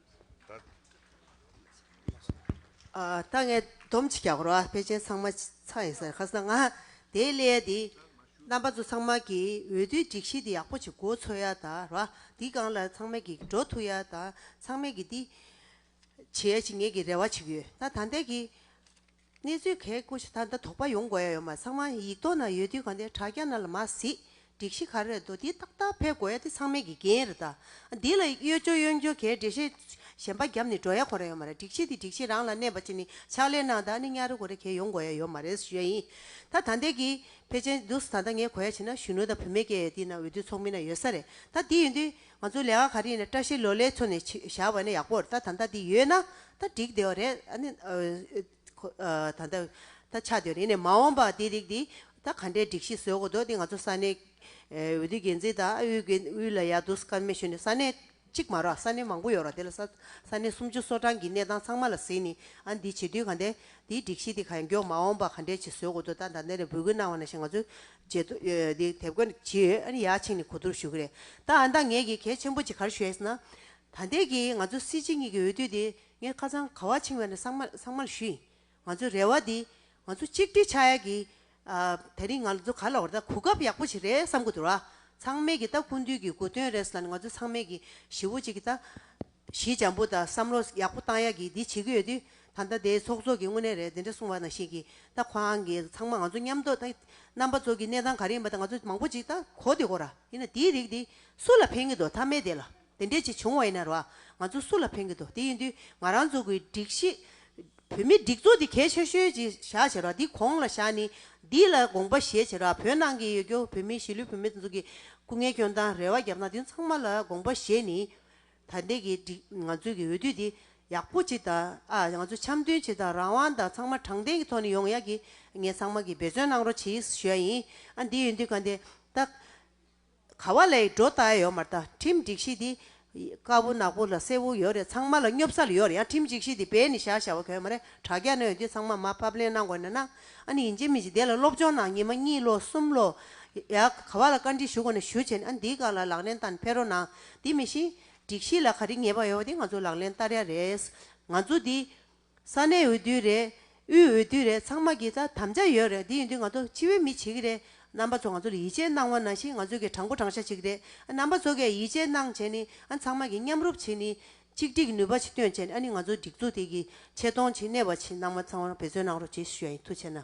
ད་ངས་སྡོམ་གཅིག་བརྒྱག་རོགས་ཨ་ཕས་མཆན་ཚང་མ་ཚར་ཡིན་ཟེར་ཁ་སང་ང་དེའི་གླེ་ཡ་དེ་རྣམ་པ་ཚོ་ཚང་མ་གི་འོས་བསྡུའི་སྒྲིག་གཞི་དེ་ཡག་པོ་ཅིག་འགོ་ཚོ་ཡ་ད་རོགས་ཨ་དེ་སྒང་ལ་ཚང་མས་གི་འགྲོ་ཐུ་ཡ་ད་ཚང་མས་གི་དེ་བྱེད་ཡ་ཅིག་ངས་གི་རེ་བ་བྱེད་གི་ཡོད་ད་ད་འདས་གི། གནས་ཚུལ་གས་སྐུ་ཞེ་ཐག་འདི་དོགས་པ་ཡོང་དགོས་ཡ་ཡོད་མ་ཚང་མ་ཡིག་ཐོག་ན་ཡོད་དུས་གང་དེ་དྲ་རྒྱ་ན་ལ་མ་གཟིགས་སྒྲིག་གཞི་ག་རེ་རྡོ་དེ་ཏག་ཏག་ཕེབས་དགོས་ཡ་དེ་ཚང་མའི་དགེ་རྒན་རེད་ད་འདི་ལ་གཡོ་སྦྱོར་གཡོ་འགྱོ་གས་འགྲེལ་བཤད་གཞན་པ་བརྒྱབ་ནས་འགྲོ་ཡ་གོ་རེ་ཡོད་མ་རེད་སྒྲིག་གཞི་དེ་སྒྲིག་གཞི་རང་ལ་གནས་པ་ཅི་ནས་ཕྱག་ལས་གནང་ད་ནི་གཉའ་རེ་གོ་རེ་གས་ཡོང་དགོས་ཡ་ཡོད་མ་རེད་ཞུ་ཡ་ཡིན་ད་ད་འདས་གི་ཕལ་ཆེན་འདུག་ད་ད་ངས་གོ་ཡ་བྱས་ན་གཞོན་ནུ་དང་བུད་མེད་སྐད་ཡ་དེ་ན་འོས་བསྡུ་ཚོགས་མི་ན་ཡོད་ས་རེད་ད་དེ་ཡོད་དུས། ང་ཚོ་ལས་ཀ་ག་རེ་ཡིན་ན་བཀྲ་ཤིས་ལོ་ལེགས་མཚོ་ནས་བཞག་བ་ནས་ཡག་པོར་ད་ད་ལྟ་འདི་ཡོད་ན་ད་འགྲིག་བསྡད་བ་རེད་ཨ་ནི། ད་ལྟ་ད་ཆགས་བསྡད་བ་རེད་ནས་མ་འོངས་པ་འདི་རིགས་འདི་ད་ག་འདྲའི་སྒྲིག་གཞི་བཟོས་དགོས་འདུག་འདི་ང་ཚོ་ས་གནས། འོས་བསྡུ་འགན་འཛིན་དང་དབུས་འགན་དབུས་ལ་ཡག་འདུག་ས་གནས་མེ་ཤོད་ནས་ས་གནས་གཅིག་མ་རོག་ས་གནས་མང་པོ་ཡོད་རོག་དེ་ལ་ས་ས་གནས་སུམ་ཅུ་སོ་གྲངས་ཀྱི་གནས་སྟངས་ཚང་མ་ལ་གཟིགས་ནས་ཨ་འདི་བྱེད་དུས་ག་འདའི་འདིའི་སྒྲིག་གཞི་འདི་ག་མགྱོགས་མ་འོངས་པ་ག་འདྲའི་ཆེ་བཟོས་དགོས་འདུག་ད་ད་འདི་ནས་འབོད་སྐུལ་གནང་བ་ནང་བཞིན་ང་ཚོའི་བྱེད་དུ་དེ་དེབ་དགོན་གྱི་ཡ་ཕྱིན་ནས་གོ་བསྡུར་ཞུ་གི་རེད་ད་ཨ་མདའ་ངེད་ཀྱིས་གལ་ཆེན་པོ་གཅིག་གར་ཞུ་ཡས་ན། ད་འདས་ཀྱི་ང་ཚོ་སྲིད་སྤྱི་གཉིས་ཀྱི་འོས་བསྡུ་དེ་ངས་ཁ་ཚང་ག་བ་ཕྱིན་བས་ན་གསང་མ་གསང་མ་ལ་ཞུ་ཡིན་ང་ཚོའི་རེ་བ་དེ་ང་ཚོ་གཅིག་སྒྲིལ་ཆགས་ཡས་ཀྱི་ཨ་ད་རིང་ང་ཚོ་ག་ལ་བར་ད་གོ་སྐབས་ཡག་པོ་ཞིག་རེད་བསམ་གི་འདུག་ར་ཚང་མས་ཀྱི་ད་ཀུན་འདུས་ཀྱི་དགོས་དོན་རེད་ས་ལ་ང་ཚོ་ཚང་མས་ཀྱི་ཞི་བོ་གཅིག་གི་ད། གཞི་འཇམ་པོ་དང་བསམ་བློ་ཡག་པོ་བཏང་ཡག་གི་འདི་བྱེད་ཀྱི་ཡོད་དུས་ད་ལྟ་དེ་ཚོགས་གཙོ་གི་དངོས་གནས་རེད་དེ་འདྲ་གསུང་བ་ནང་བཞིན་གྱི་ད་ཁོ་རང་གི་ཚང་མ་ང་ཚོ་མཉམ་དོ་ད་རྣམ་པ་ཚོ་གི་གནས་སྟངས་ག་རེ་ཡིན་པ་ད་ང་ཚོ་མང་པོ་ཅིག་ད་གོ་དེ་གོ་ར་ཡིན་ན་དེའི་རིགས་དེ་སུ་ལ་ཕན་གྱི་དོ་ད་མེད་དེ་ལ་དེ་འདྲས་ཅིག་བྱུང་བ་ཡིན་ན་ར་ང་ཚོ་སུ་ལ་ཕན་གྱི་དོ་དེ་ཡིན་དུས་ང་རང་ཚོ་གི་སྒྲིག་གཞི་བོད་མི་སྒྲིག་འཛུགས་དེ་གལ་ཆེ་ཤོས་ཅིག་བཞག་བྱས་ར་དེ་གོང་ལ་བཞག་ནི་འདི་ལ་དགོངས་པ་བཞེས་བྱས་ར་བོད་ནང་གི་ཡོད་རྒྱུ་བོད་མི་གཞིས་ལུས་བོད་མི་དེ་ཚོ་གི་སྐུ་ངལ་སྐྱོན་དང་རེ་བ་རྒྱབ་ན་དེ་ཚང་མ་ལ་དགོངས་པ་བཞེས་ནི་ད་ལྟའི་གི་ང་ཚོའི་གི་འོས་བསྡུ་འདི་ཡག་པོ་བྱེད་ད་ང་ཚོ་འཆམ་མཐུན་བྱེད་ད་རང་དབང་དང་ཚང་མ་དྲང་བདེན་གི་ཐོག་ནས་ཡོང་ཡག་གི་ངས་ཚང་མ་གི་འབད་བརྩོན་གནང་རོགས་བྱེད་ཞུ་ཡག་ཡིན་ཨ་འདི་འོས་འདུ་ག་འདི་ད་ག་བ་ལ་ཡི་འགྲོ་ད་ཡོ་མ་ད་ཁྲིམས་སྒྲིག་གཞི་འདི་དཀར་བོ་ནག་པོ་ལ་སེར་བོ་ཡོ་རེད་ཚང་མ་ལ་སྙོབ་ས་ལ་ཡོ་རེད་ཡང་ཁྲིམས་སྒྲིག་གཞི་འདི་བེད་ནས་བཞག་བཞག་བ་ག་མ་རེད་དྲ་རྒྱ་ནས་འོས་འདུ་ཚང་མ་མ་ཕབ་ལེན་གནང་དགོས་ན་གནང་ཨ་འདི་ཡིན་ཅི་མིན་ཅི་འདི་ལ་སློབ་སྦྱོང་གནང་ཉི་མ་གཉིས་ལོ་གསུམ་ལོ་ཡག་ག་བ་ལ་བཀའ་འདྲི་ཞུ་དགོས་ན་ཞུ་བྱས་ཨ་འདི་ག་ལ་ལག་ལེན་བསྟར་འཕེར་རོགས་གནང་དེ་མི་ཤེས། སྒྲིག་གཞི་ལ་ག་རེ་ངེས་པ་ཡོད་པ་དེ་ང་ཚོ་ལག་ལེན་བསྟར་ཡ་རེད། ང་ཚོ་འདི། ས་གནས་འོས་བསྡུ་རེད། དབུས་འོས་བསྡུ་རེད་ཚང་མ་གི་ད་དམ་བཅའ་ཡོད་རེད་དེ་ཡིན་དུས་ང་ཚོ་སྤྱི་བའི་མི་བྱེད་གི་རེད། རྣམ་པ་ཚོ་ང་ཚོ་ལ་ཡིད་ཆེས་གནང་བ་ན་བཞིན་ང་ཚོ་གི་དྲང་པོ་དྲང་བཞག་བྱེད་གི་རེད། རྣམ་པ་ཚོ་གས་ཡིད་ཆེས་གནང་བྱས་ནི་ཨ་ཚང་མ་གི་མཉམ་རུབ་བྱེད་ནི། གཅིག་སྒྲིག་གི་ནུས་པ་ཆིག་སྟོན་བྱས་ནི་ཨ་ནི་ང་ཚོ་སྒྲིག་འཛུགས་དེ་གི་ཆེ་མཐོང་ཆེ་གནས་པ་བྱེད་རྣམ་པ་ཚང་མ་འབད་བརྩོན་གནང་རོགས་བྱེད་ཞུ་ཡ་ཡིན་ཐུགས་ཆེ་ན།